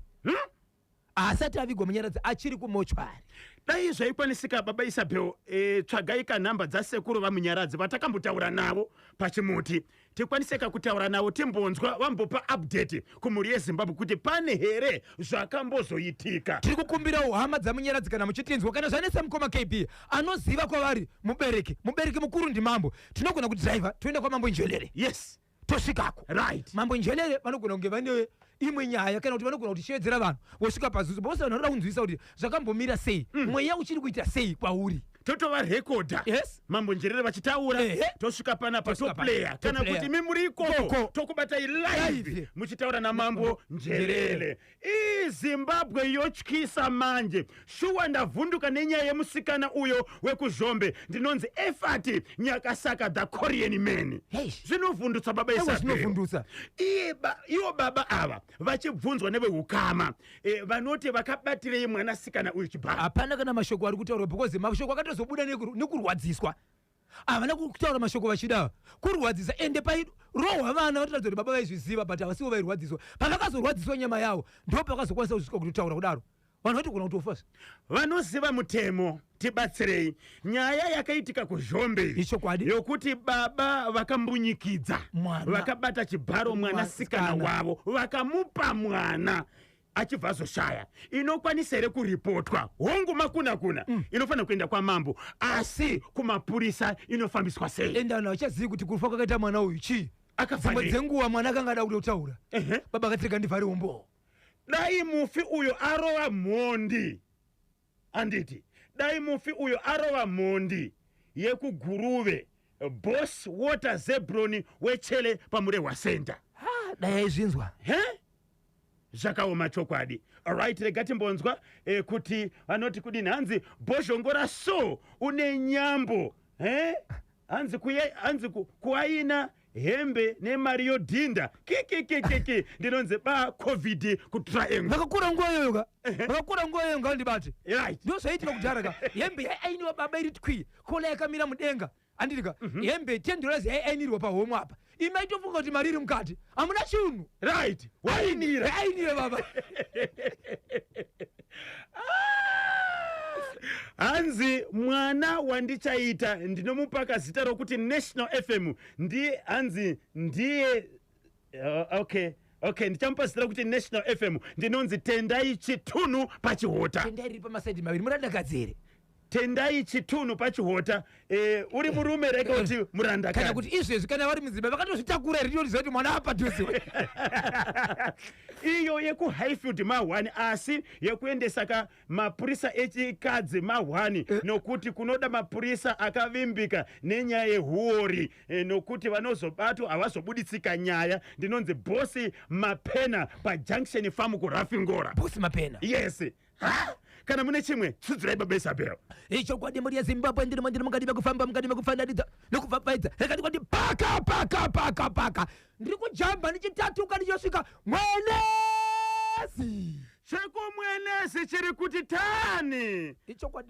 haasati avigwa munyaradzi achiri kumochwari dai zvaikwanisika baba isabel e, tsvagai kanhamba dzasekuru vamunyaradzi vatakambotaura navo pachimuti tikwaniseka kutaura navo timbonzwa vambopa update kumhuri yezimbabwe kuti pane here zvakambozoitika tiri kukumbirawo hama dzamunyaradzi kana muchitinzwa kana zvanetsa mukoma kb anoziva kwavari mubereki mubereki mukuru ndimambo tinogona kudriver toenda kwamambo njwelere yes tosvikako right mambo njelele vanogona kunge vane imwe nyaya kana kuti vanogona kuti shevedzera vanhu vosvika pazuzu bose vanhu vanoda kunzwisa kuti zvakambomira sei mm. mweya uchiri kuita sei kwauri totova rekodha yes. mambo njerere vachitaura tosvika pana patoplaya kana kuti mi muri ikoko tokubatai live muchitaura namambo njerere Ii Zimbabwe yotyisa manje. Shuwa ndavhunduka nenyaya yemusikana uyo wekuzhombe ndinonzi Efati Nyakasaka the Korean man. Eish. Zvinovhundutsa baba Ewa, Isabel. zvinovhundutsa. Iye ba- Ivo baba ava vachibvunzwa nevehukama eh, vanoti vakabatirei mwanasikana uyu chibaba. hapana kana mashoko ari kutaurwa because mashoko akatozobuda nekur- nekurwadziswa havana kutaura mashoko vachida kurwadzisa ende pairohwa vana vatoratidza kuti baba vaizviziva but havasivo vairwadziswa pavakazorwadziswa nyama yavo ndo pakazokwanisa kuzvika kutotaura kudaro vanhu vatogona kutofa vanoziva mutemo tibatsirei nyaya yakaitika kuzhombe ichokwadi yokuti baba vakambunyikidza vakabata chibharo mwanasikana wavo vakamupa mwana achibva azoshaya inokwanisa here kuripotwa hongu makunakuna mm. inofanira kuenda kwamambo asi kumapurisa inofambiswa sei enda vanhu havachazivi kuti kufa kwakaita mwana uyu chii dzimwe dzenguva mwana akanga ada kuda kutaura uh -huh. baba akatirega ndivhari umboo dai mufi uyo arova mhondi Anditi dai mufi uyo arova mhondi yekuGuruve boss water zebroni wechele pamurehwa center. Haa dai aizvinzwa. He? Zvakaoma chokwadi. Alright rega timbonzwa eh, kuti vanoti kudini hanzi bhozhongora so une nyambo. He? Hanzi kuye hanzi ku, kuaina hembe nemari yodhinda kikikikiki ndinonzi ba covid kutriangle vakakura nguva iyoyo ka vakakura nguva iyoyo ngavandibate right ndo zvaiitika kudhara ka hembe yaiainiwa baba iri twi kola yakamira mudenga andiri ka hembe ten dollars yaiainirwa pahomwe apa imi maitofunga kuti mari iri mukati hamuna chinhu right wainira ainire baba hanzi mwana wandichaita ndinomupaka zita rokuti national fm ndi hanzi ndiye uh, okay okay ndichamupa zita rokuti national fm ndinonzi tendai chitunhu pachihota tendai riri pamasaidi maviri muradakadzi here Tendai chitunhu pachihota eh, uri murume rega kuti eh, muranda kana kuti izvezvi kana vari mudzimba vakatozvitakura here ndinoziva kuti mwana apadhuze iyo yekuhighfield mahwani asi yekuendesa ka mapurisa echikadzi mahwani eh. nokuti kunoda mapurisa akavimbika nenyaya yehuori eh, nokuti vanozobatwa havazobuditsika nyaya ndinonzi bosi mapena pajunction famu kurafingora bosi mapena yes Ha! Kana mune chimwe, sudzirai baba Isabel. ichokwadi mhuri yezimbabwe ndiri mandiri mukati mekufamba mukati mekufananidza nekubvabvaidza rekati kwati paka paka paka paka ndiri kujamba ndichitatuka ndichosvika mwenezi Chekumwenezi chiri kuti tani. ichokwadi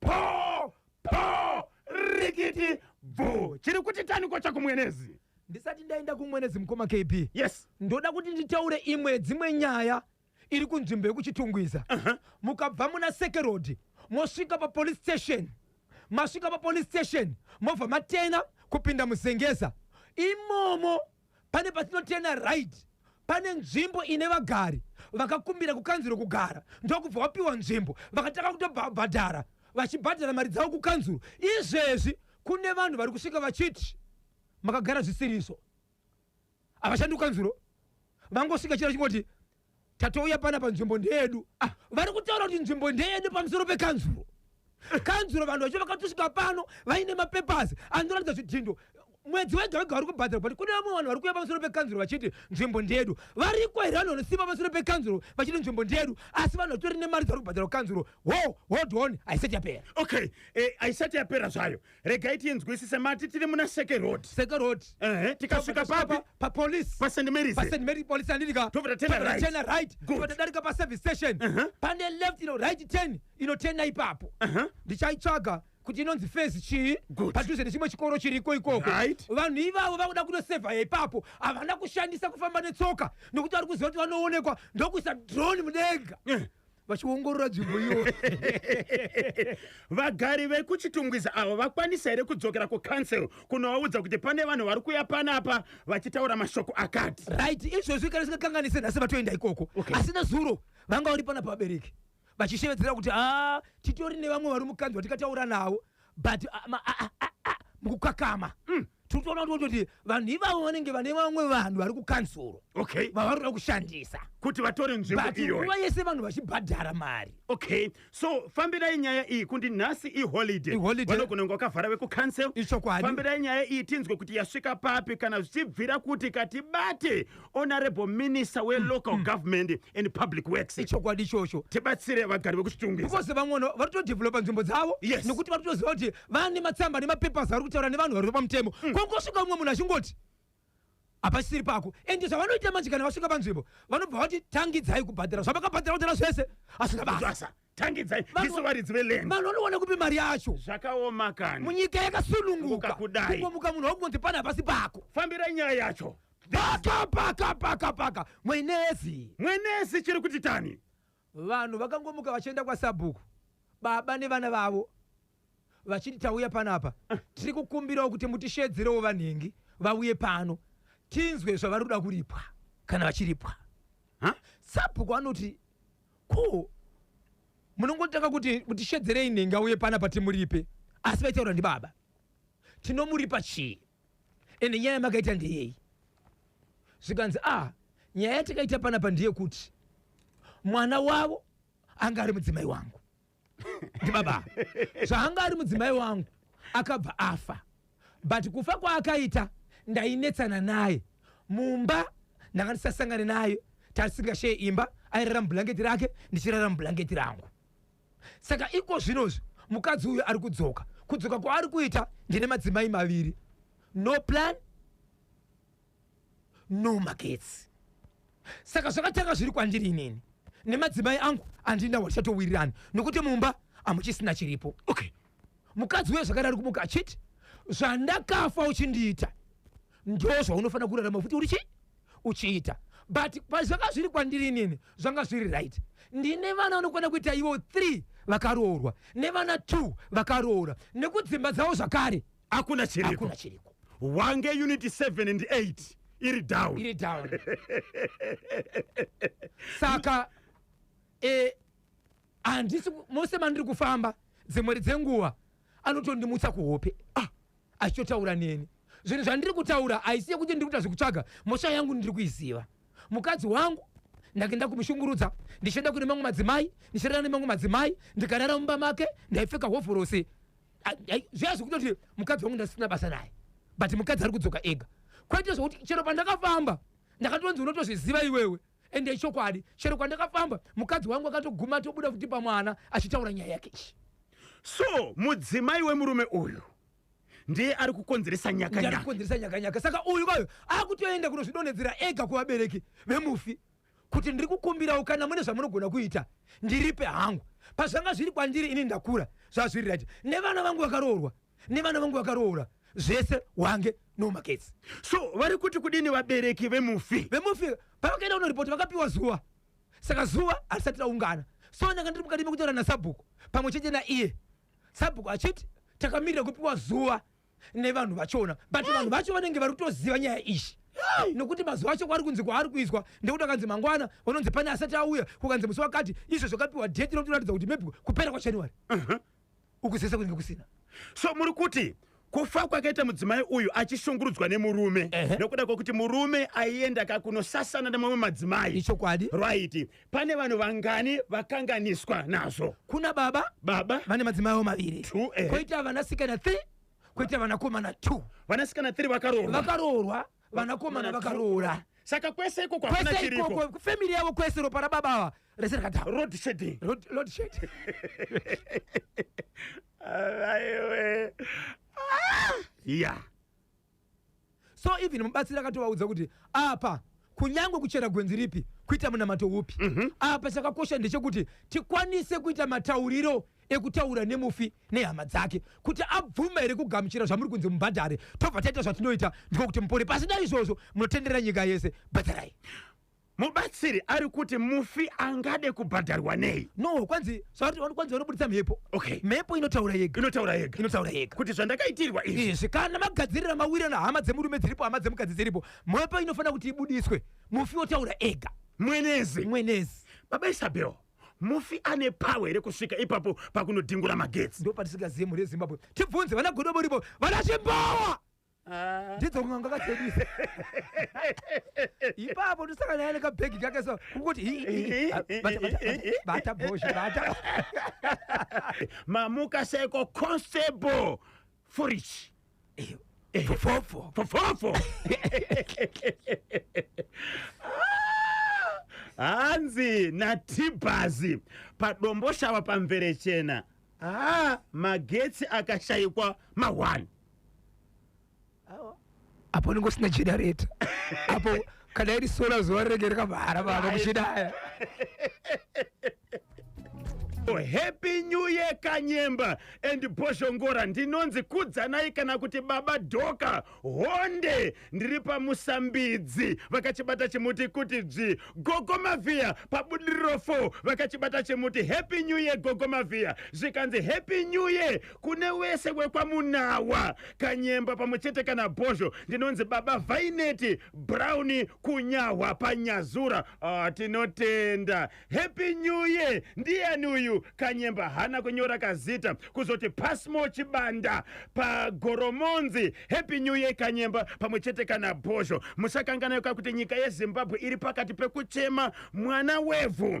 Poo! Poo! Rikiti! Bvuu! Chiri kuti taniko chakumwenezi? Ndisati ndaenda kumwenezi mukoma KB. Yes. Ndoda kuti nditaure imwe dzimwe nyaya iri kunzvimbo yekuchitungwiza. Uh -huh. Mukabva muna Seke Road mosvika pa police station. Masvika pa police station mobva matena kupinda muzengeza. Imomo pane patinotena right pane nzvimbo ine vagari vakakumbira kukanzuro kugara ndokubva wapiwa nzvimbo vakatanga kutobhadhara vachibhadhara mari dzavo kukanzuro izvezvi kune vanhu vari kusvika vachiti makagara zvisiriso havashandi kukanzuro vangosvika chiro chingoti tatouya pana panzvimbo ndeyedu ah. vari kutaura kuti nzvimbo ndeyedu pamusoro pekanzuro kanzuro vanhu vacho vakatosvika pano vaine mapepers anoratidza zvidhindo mwedzi wega wega vari kubhadhara but kune vamwe vanhu vari kuuya pamusoro pekanzuro vachiti nzvimbo ndeyedu variko here vanhu vanosimba pamusoro pekanzuro vachiti nzvimbo ndeyedu asi vanhu vatori nemari dzavari kubhadhara kukanzuro ho hold on haisati yapera okay eh, haisati yapera zvayo regai tinzwisise mati tiri muna seke road seke road ehe tikasvika papi pa police pa st mary's pa st mary's police andika tobva tena right tena right tobva tadarika pa service station uh -huh. pane left ino right turn ino tena ipapo uh -huh. ndichaitsvaga kuti inonzi fezi chii padhuze nechimwe chikoro chiriko ikoko right. vanhu ivavo vakuda kunosevha ipapo havana kushandisa kufamba netsoka nokuti vari kuziva kuti vanoonekwa ndokuisa drone mudenga uh eh. -huh. vachiongorora nzvimbo iyo vagari vekuchitungwiza avo vakwanisa here kudzokera kucouncil kunovaudza kuti pane vanhu vari kuya panapa vachitaura mashoko akati right izvozvi kana singakanganise nhasi vatoenda ikoko Okay. asi nezuro vanga vari pana pabereki vachishevedzera kuti a titori nevamwe vari mukanzwa tikataura navo but ah, ma- ah, ah, ah, ah, mukukakama Mm. tiri kutoona kuti kuti vanhu ivavo vanenge vane vamwe vanhu vari kukanzuro okay vavari kuda kushandisa kuti vatore nzvimbo but iyoyo nguva yese vanhu vachibhadhara mari okay so fambirai nyaya iyi kundi nhasi iholiday Iholiday. vanogona kunge wakavhara vekucancel Ichokwadi. fambirai nyaya iyi tinzwe kuti yasvika papi kana zvichibvira kuti katibate honorable minister welocal government and public works ichokwadi ichocho tibatsire vagari vekuchitungwiza because vamwe vanhu vari kutodevelopa nzvimbo dzavo Yes. nekuti vari kutoziva kuti vane matsamba nemapapers vari kutaura nevanhu vari pamutemo kwangosvika umwe munhu achingoti hapasisiri pako ende zvavanoita manje kana vasvika panzvimbo vanobva vati tangidzai kubhadhara zvavakabhadhara kudhara zvese asina basa basa tangidzai Vanhu- isu varidzi veland vanhu vanowana kupi mari yacho zvakaoma kani munyika yakasununguka Ukakudai. kungomuka munhu wakungonzi pana hapasi pako fambirai nyaya yacho paka paka paka paka mwenezi mwenezi chiri kuti tani vanhu vakangomuka vachienda kwasabhuku baba nevana vavo vachiti tauya panapa eh. tiri kukumbirawo kuti mutishedzerewo vanhingi vauye pano tinzwe zvavari kuda kuripwa kana vachiripwa sabhuku anoti ko munongotanga kuti mutishedzerei nhingi auye panapa timuripe asi vaitaura ndibaba tinomuripa chii ende nyaya yamakaita ndeyei zvikanzi a ah, nyaya yatakaita panapa ndeyekuti mwana wavo anga ari mudzimai wangu ndibaba zvaanga ari mudzimai wangu akabva afa but kufa kwaakaita ndainetsana naye mumba ndanga ndisasangane naye tarisingasheye imba airara mubhulangeti rake ndichirara mubhulangeti rangu saka iko zvinozvi mukadzi uyu ari kudzoka kudzoka kwaari kuita ndine madzimai maviri no plan no magetsi saka zvakatanga zviri kwandiri inini nemadzimai angu andina wachatowirirana nokuti mumba amuchisina chiripo okay mukadzi uye zvakadari kumuka achiti zvandakafa uchindiita ndo zvaunofanira kurarama futi uri chii uchiita but pazvanga zviri kwandiri inini zvanga zviri right ndine vana vanokwana kuita ivo three vakaroorwa nevana two vakaroora nekudzimba dzavo zvakare hakuna chiriko wange unity 7 and 8 iri down iri down saka e, handisi mose mandiri kufamba dzimweri dzenguva anotondimutsa kuhope ah, achitotaura neni zvinhu zvandiri kutaura haisi yekuti ndiri kuita zvekutsvaga mosha yangu ndiri kuiziva mukadzi wangu ndake ndakumushungurudza ndichienda kune mamwe madzimai ndichirara nemamwe madzimai ndikarara mumba make ndaipfeka hovhorosi zviya zvekutoti mukadzi wangu ndasina basa naye but mukadzi ari kudzoka ega kwete zvekuti chero pandakafamba ndakatonzi unotozviziva iwewe ende ichokwadi chero kwandakafamba mukadzi wangu akatoguma atobuda futi pamwana achitaura nyaya yake ichi so mudzimai wemurume uyu ndiye ari kukonzeresa nyakanyaka kukonzeresa nyakanyaka saka uyu kwayo akutoenda kunozvidonhedzera ega kuvabereki vemufi kuti ndiri kukumbirawo kana mune zvamunogona kuita ndiripe hangu pazvanga zviri kwandiri ini ndakura zvazviri right nevana vangu vakaroorwa nevana vangu vakaroora zvese wange no maketsi so vari kuti kudini vabereki vemufi vemufi pavakaenda kunoripoti vakapiwa zuva saka zuva harisati raungana so ndanga ndiri mukati mekutaura nasabhuku pamwe chete naiye sabhuku achiti takamirira kupiwa zuva nevanhu vachona but vanhu vacho vanenge vari kutoziva nyaya ishi nokuti mazuva acho kwari kunzi kwaari kuiswa ndekuti akanzi mangwana vanonzi pane asati auya kukanzi musi wakati izvo zvakapiwa date rinotoratidza kuti maybe kupera kwajanuary ukuzesa kunenge kusina so muri kuti kufa kwakaita mudzimai uyu achishungurudzwa nemurume Ehe. nokuda kwokuti murume aienda kakunosasana nemamwe madzimai ichokwadi right pane vanhu vangani vakanganiswa nazvo kuna baba baba vane madzimai avo maviri Two, eh. koita vanasikana th koita vanakomana t vanasikana 3 vakaroorwa vakaroorwa vanakomana vakaroora saka kwese ikoko hakuna kwese chiriko ikoko family yavo kwese ropa rababa ava rese rakadha road shedding road load shed aiwe ya so even mubatsiri akatovaudza kuti apa kunyange kuchera gwenzi ripi kuita munamato upi apa chakakosha ndechekuti tikwanise kuita matauriro ekutaura nemufi nehama dzake kuti abvuma here kugamuchira zvamuri kunzi mubhadhare tobva taita zvatinoita ndiko kuti mupore pasina izvozvo munotenderera nyika yese bhadharai Mubatsiri ari kuti mufi angade kubhadharwa nei? No, kwanzi zvauri wani- kwanzi vanobuditsa mhepo. Okay. Mhepo inotaura yega. Inotaura yega. Inotaura yega. Kuti zvandakaitirwa izvi. Izvi kana magadzirira mawira na hama dzemurume dziripo hama dzemukadzi dziripo mhepo inofanira kuti ibudiswe mufi otaura ega Mwenezi. mwenezi Baba Isabel. Mufi ane power here kusvika ipapo pakunodhingura magetsi. ndo patisingazive mhuri yezimbabwe tibvunze vana godobo ripo vana chimbawa Ah. ndidzo kun'anga katsebisa ipapo ndosaka naye nekabhegi kake so kunguti hi- hi- hi- ah, bata- bata- bata bhozha bata mamuka seko constable furich Eh, fofofo fofofo hanzi natibhazi padomboshava pamvere chena ah, magetsi akashaikwa mahwani apo unenge usina generator apo kana iri sola zuva rinenge rikamhara pano muchidaya happy new year kanyemba and bhoshongora ndinonzi kudzanai kana kuti baba dhoka honde ndiri pamusambidzi vakachibata chimuti kuti dzvi gogo mavhiya pabudiriro 4 vakachibata chimuti happy new year gogo mavhiya zvikanzi happy new year kune wese wekwamunawa kanyemba pamwe chete kana bhozho ndinonzi baba vaineti brown kunyahwa panyazura ah, tinotenda happy new year ndiyani uyu kanyemba hana kunyora kazita kuzoti pasmo chibanda pagoromonzi happy new year kanyemba pamwe chete kana bhozho musakanganaka kuti nyika yezimbabwe iri pakati pekuchema mwana wevhu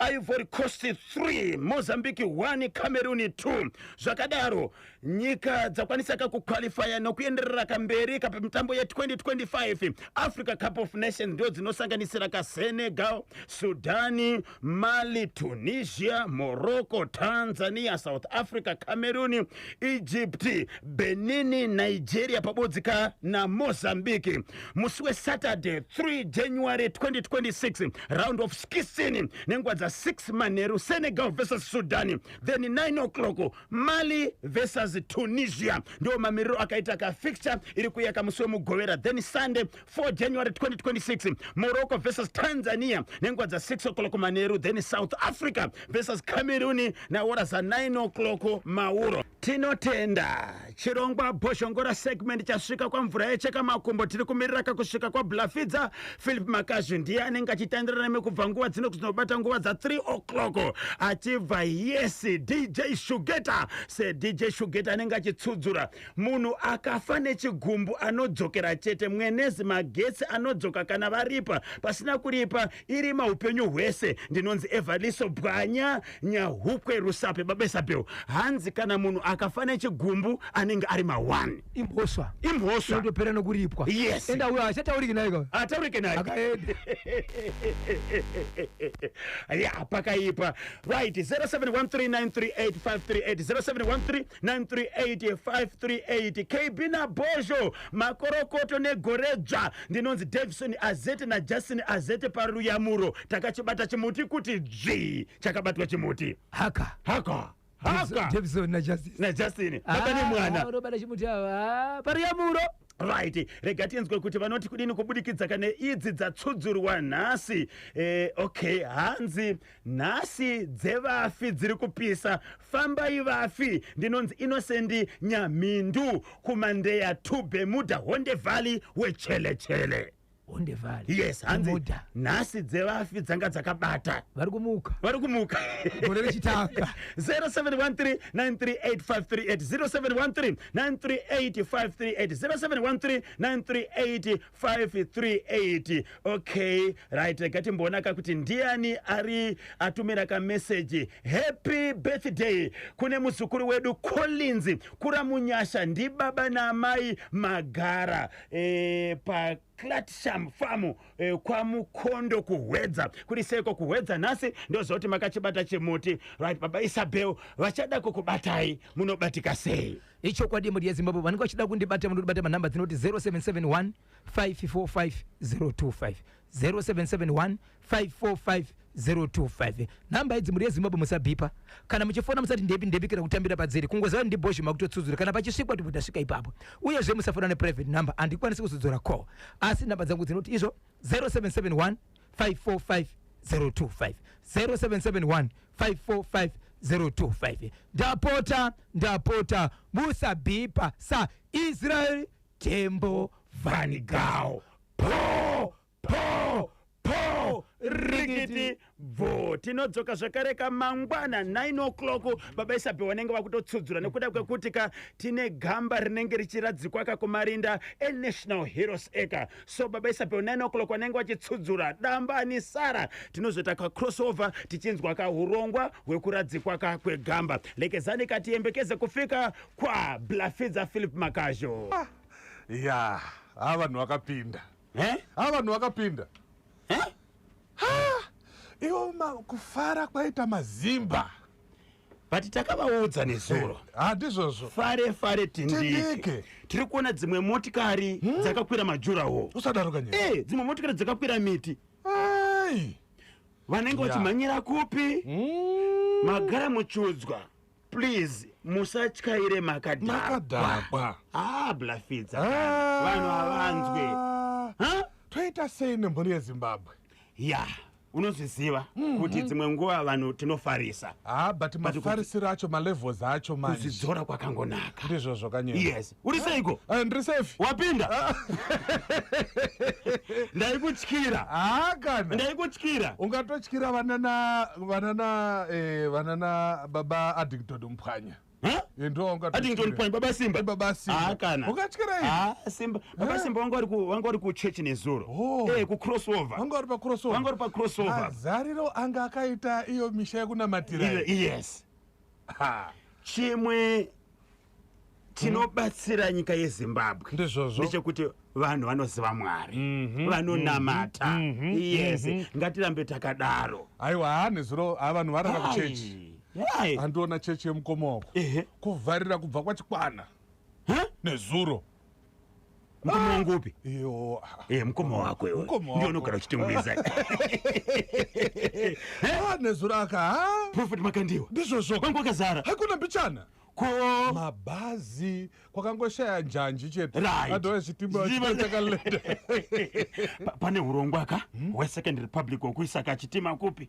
ivory coast 3 mozambique 1 cameroon 2 zvakadaro nyika dzakwanisa ka kuqualifya nokuenderera kamberi ka pamitambo ye2025 africa cup of nations ndo dzinosanganisira ka senegal sudani mali tunisia morocco tanzania south africa cameroon egypt benini nigeria pabodzika namozambique musi wesaturday 3 january 2026 round of 16 nenguva dza6 manheru senegal versus sudan then 9 o'clock mali versus tunisia ndiwo mamiriro akaita kafixture iri kuyaka musi wemugovera then sunday 4 January 2026, Morocco versus Tanzania nenguva dza 6 o'clock manheru, then South Africa versus Cameroon nahora za 9 o'clock mauro. Tinotenda chirongwa bhozhongora segment chasvika kwamvura yecheka makumbo tiri kumirira kakusvika kwablafidza philip makazhu ndiye anenge achitandirana nemi kubva nguva dzino kuzinobata nguva dza 3 o'clock achibva yes dj shugeta sedj shugeta anenge achitsudzura munhu akafa nechigumbu anodzokera chete mwenezi magetsi anodzoka kana varipa pasina kuripa irima upenyu hwese ndinonzi evaliso bwanya nyahukwe rusape babesapeo hanzi kana munhu akafa nechigumbu anenge ari mawani imhosva imhosva inotopera nokuripwa yes enda uyo achatauriki naye ataurike naye akaenda ya pakaipa right 0713938538 0713 938 538 kb nabhozho makorokoto negoredzva ndinonzi davison azete najustin azete paruyamuro takachibata chimuti kuti dzvii chakabatwa chimuti haka haka haka davison najustin najustin baba ah, nemwana unobata chimuti ava ah, paruyamuro right rega tinzwe kuti vanoti kudini kubudikidza kane idzi dzatsudzurwa nhasi eh, okay hanzi Nhasi dzevafi dziri kupisa fambai vafi ndinonzi Innocent Nyamhindu kumandeya to Bermuda Honde Valley wechele chele. Honde Valley. Yes, hanzi Bermuda. nhasi dzevafi dzanga dzakabata. Vari kumuka. Vari kumuka. Gore rechitanga. 0713938538 0713938538 0713938538 538 okay right ngatimboona ka kuti ndiani ari atumira kameseji happy birthday kune muzukuru wedu collins kuramunyasha ndibaba naamai magara e, pa Clatsham Farm eh, kwaMukondo kuHwedza kuri seko kuHwedza nhasi ndozoti makachibata chimuti right baba Isabel vachada kukubatai munobatika sei Ichokwadi mhuri yeZimbabwe vanenge vachida kundibata munotibata manhamba dzinoti 0771 545025 0771 545025 nhamba idzi mhuri yeZimbabwe musabhipa kana muchifona musati ndepi ndepi kana kutambira padziri kungoziva ndibhozhi makutotsudzura kana pachisvikwa tibvo tasvika ipapo uyezve musafona neprivate number handikwanisi kuzodzora call asi nhamba dzangu dzinoti izvo 0771 545025 0771 545025 ndapota ndapota musabhipa sa israel tembo vanigao po po po rikiti bvo tinodzoka zvakare ka mangwana 9 o'clock baba isabe vanenge vakutotsudzura nekuda kwekuti ka tine gamba rinenge richiradzikwa ka kumarinda enational heroes eka so baba isape 9 o'clock wanenge wachitsudzura damba ani sara tinozoita kacrossover tichinzwa kahurongwa hwekuradzikwa ka kwegamba lekezani katiyembekeze kufika kwa blafidza philip makazho ah, ya haa vanhu vakapinda eh? haa vanhu vakapinda eh? iwo kufara kwaita mazimba but takavaudza nezuro eh, handizvozvo fare fare tindike tiri kuona dzimwe motikari hmm? dzakakwira majurawo usadaro kanye eh, dzimwe motikari dzakakwira miti vanenge vachimhanyira kupi hmm. magara muchudzwa please musatyaire makadhakwa ah, blafidza ah. vanhu havanzwe toita sei nemhuri yezimbabwe ya unozviziva mm-hmm. kuti dzimwe nguva vanhu tinofarisa ah, but mafarisiro acho malevels acho manzvidzora kwakangonaka ndizvo zvokanyora yes uri seiko ah, eh, ndiri safe wapinda ah. ndaikutyira hakana ndaikutyira ungatotyira vanana vanana eh, vanana baba addington mphwanya Addington Point baba Simba baba Simba ah kana ukatyira hivi ah Simba baba Simba wangu ari ku wangu ari ku church nezuro oh. eh ku crossover wangu ari pa crossover wangu ari pa crossover azariro ah, anga akaita iyo misha yekunamatira yes ha chimwe tinobatsira hmm. nyika yezimbabwe ndizvozvo ndechekuti vanhu vanoziva mwari mm -hmm, vanonamata mm -hmm, yes mm -hmm. ngatirambe takadaro aiwa haa nezuro haa vanhu varara kuchechi Why? andiona chechi yemukoma wako Ehe. kuvharira kubva kwachikwana Huh? nezuro Mukoma wangu upi? iyo Eh, mukoma wako iwe. Mukoma wako. Ndiye unogara uchitengweza. Ah, nezuro aka ha Prophet Makandiwa. ndizvozvo Wangu wakazara. hakuna mbichana Ko mabhazi kwakangoshaya njanji chete Right. adova chitima Chitima. chakalenda Pa- pane urongwa ka hwesecond republic wekuisaka chitima kupi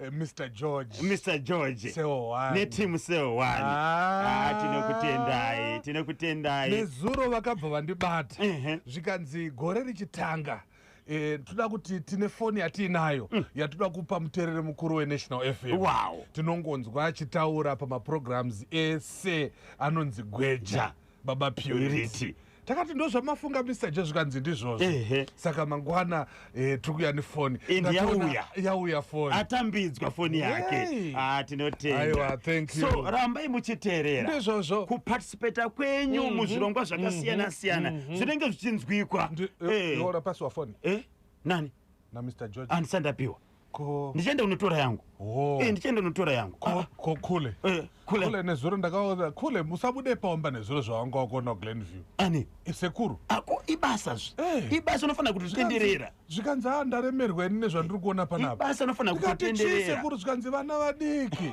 Eh, Mr George. Mr George. Seo one. Ne team seo one. Ah, ah tinokutendai. Tinokutendai. Nezuro vakabva vandibata. Uh -huh. Zvikanzi gore richitanga. Eh, toda kuti tine foni yatiinayo mm. yatoda kupa muterere mukuru wenational fm wow. tinongonzwa achitaura pamaprograms ese anonzi gweja baba purity takati ndozvamafunga mr je zvikanzi ndizvozvo saka mangwana eh, tiri kuya nefoni yauya yauya foni atambidzwa foni yake ah, tinotenda so rambai muchiteerera ndizvozvo kuparticipata kwenyu mm -hmm. muzvirongwa mhm. zvakasiyana siyana mm -hmm. zvinenge zvichinzwikwa eh, eh. ora pasi wafoni eh? nani namr george andisandapiwa ko ndichaenda kunotora yangu oh. e, ndichaenda kunotora yangu ko, ah. ko kule e, kule, kule nezuro ndakaona kule musabude paomba nezuro zvawanga wakuona glenview ani isekuru ah, ako ibasa zvi e. ibasa unofanira kuti zvitenderera zvikanzi a ah, ndaremerwa ini nezvandiri kuona panapa ibasa unofanira kutitendererasekuru zvikanzi vana vadiki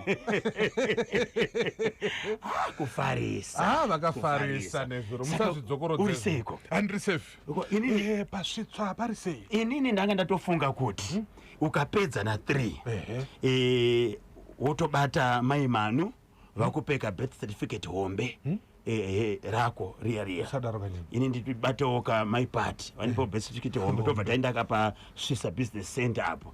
kufarisa vakafarisa nezuro musazvidzokorodzei uri seiko andiri safe Eh, pasvitswa pari sei inini ndanga ndatofunga kuti hmm? ukapedza na three eh, wotobata mai manu hmm? vakupeka birth certificate hombe hmm? ehe rako riya riya ini ndibatawo ka my part vanipo eh. best tichiti hombe tobva taendaka pasvisa business center apo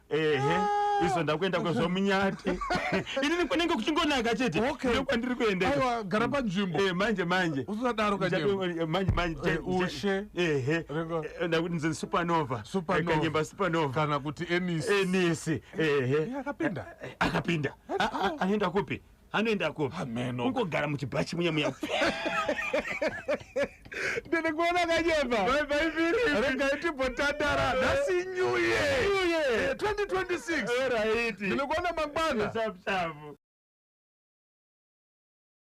ehe izo ndakuenda kwezvomunyati inini kunenge kuchingonaka chete Okay. ndo kwandiri kuendeka aiwa gara panzvimbo Eh, manje manje usadaro kanyemba Ndichato- eh, manje manje Eh, che- ushe. ehe Renga- Eh, ndakuti ndinzi supernova Supernova. Eh, kanyemba supernova kana kuti enisi enisi ehe Iye akapinda akapinda A- a- anoenda kupi anoendako Hameno. ungogara muchibhachi muya muya ndinikuona kanyemba regai timbotandara nhasi new year Eh, 2026 ndinikuona mangwana Chapu chapu.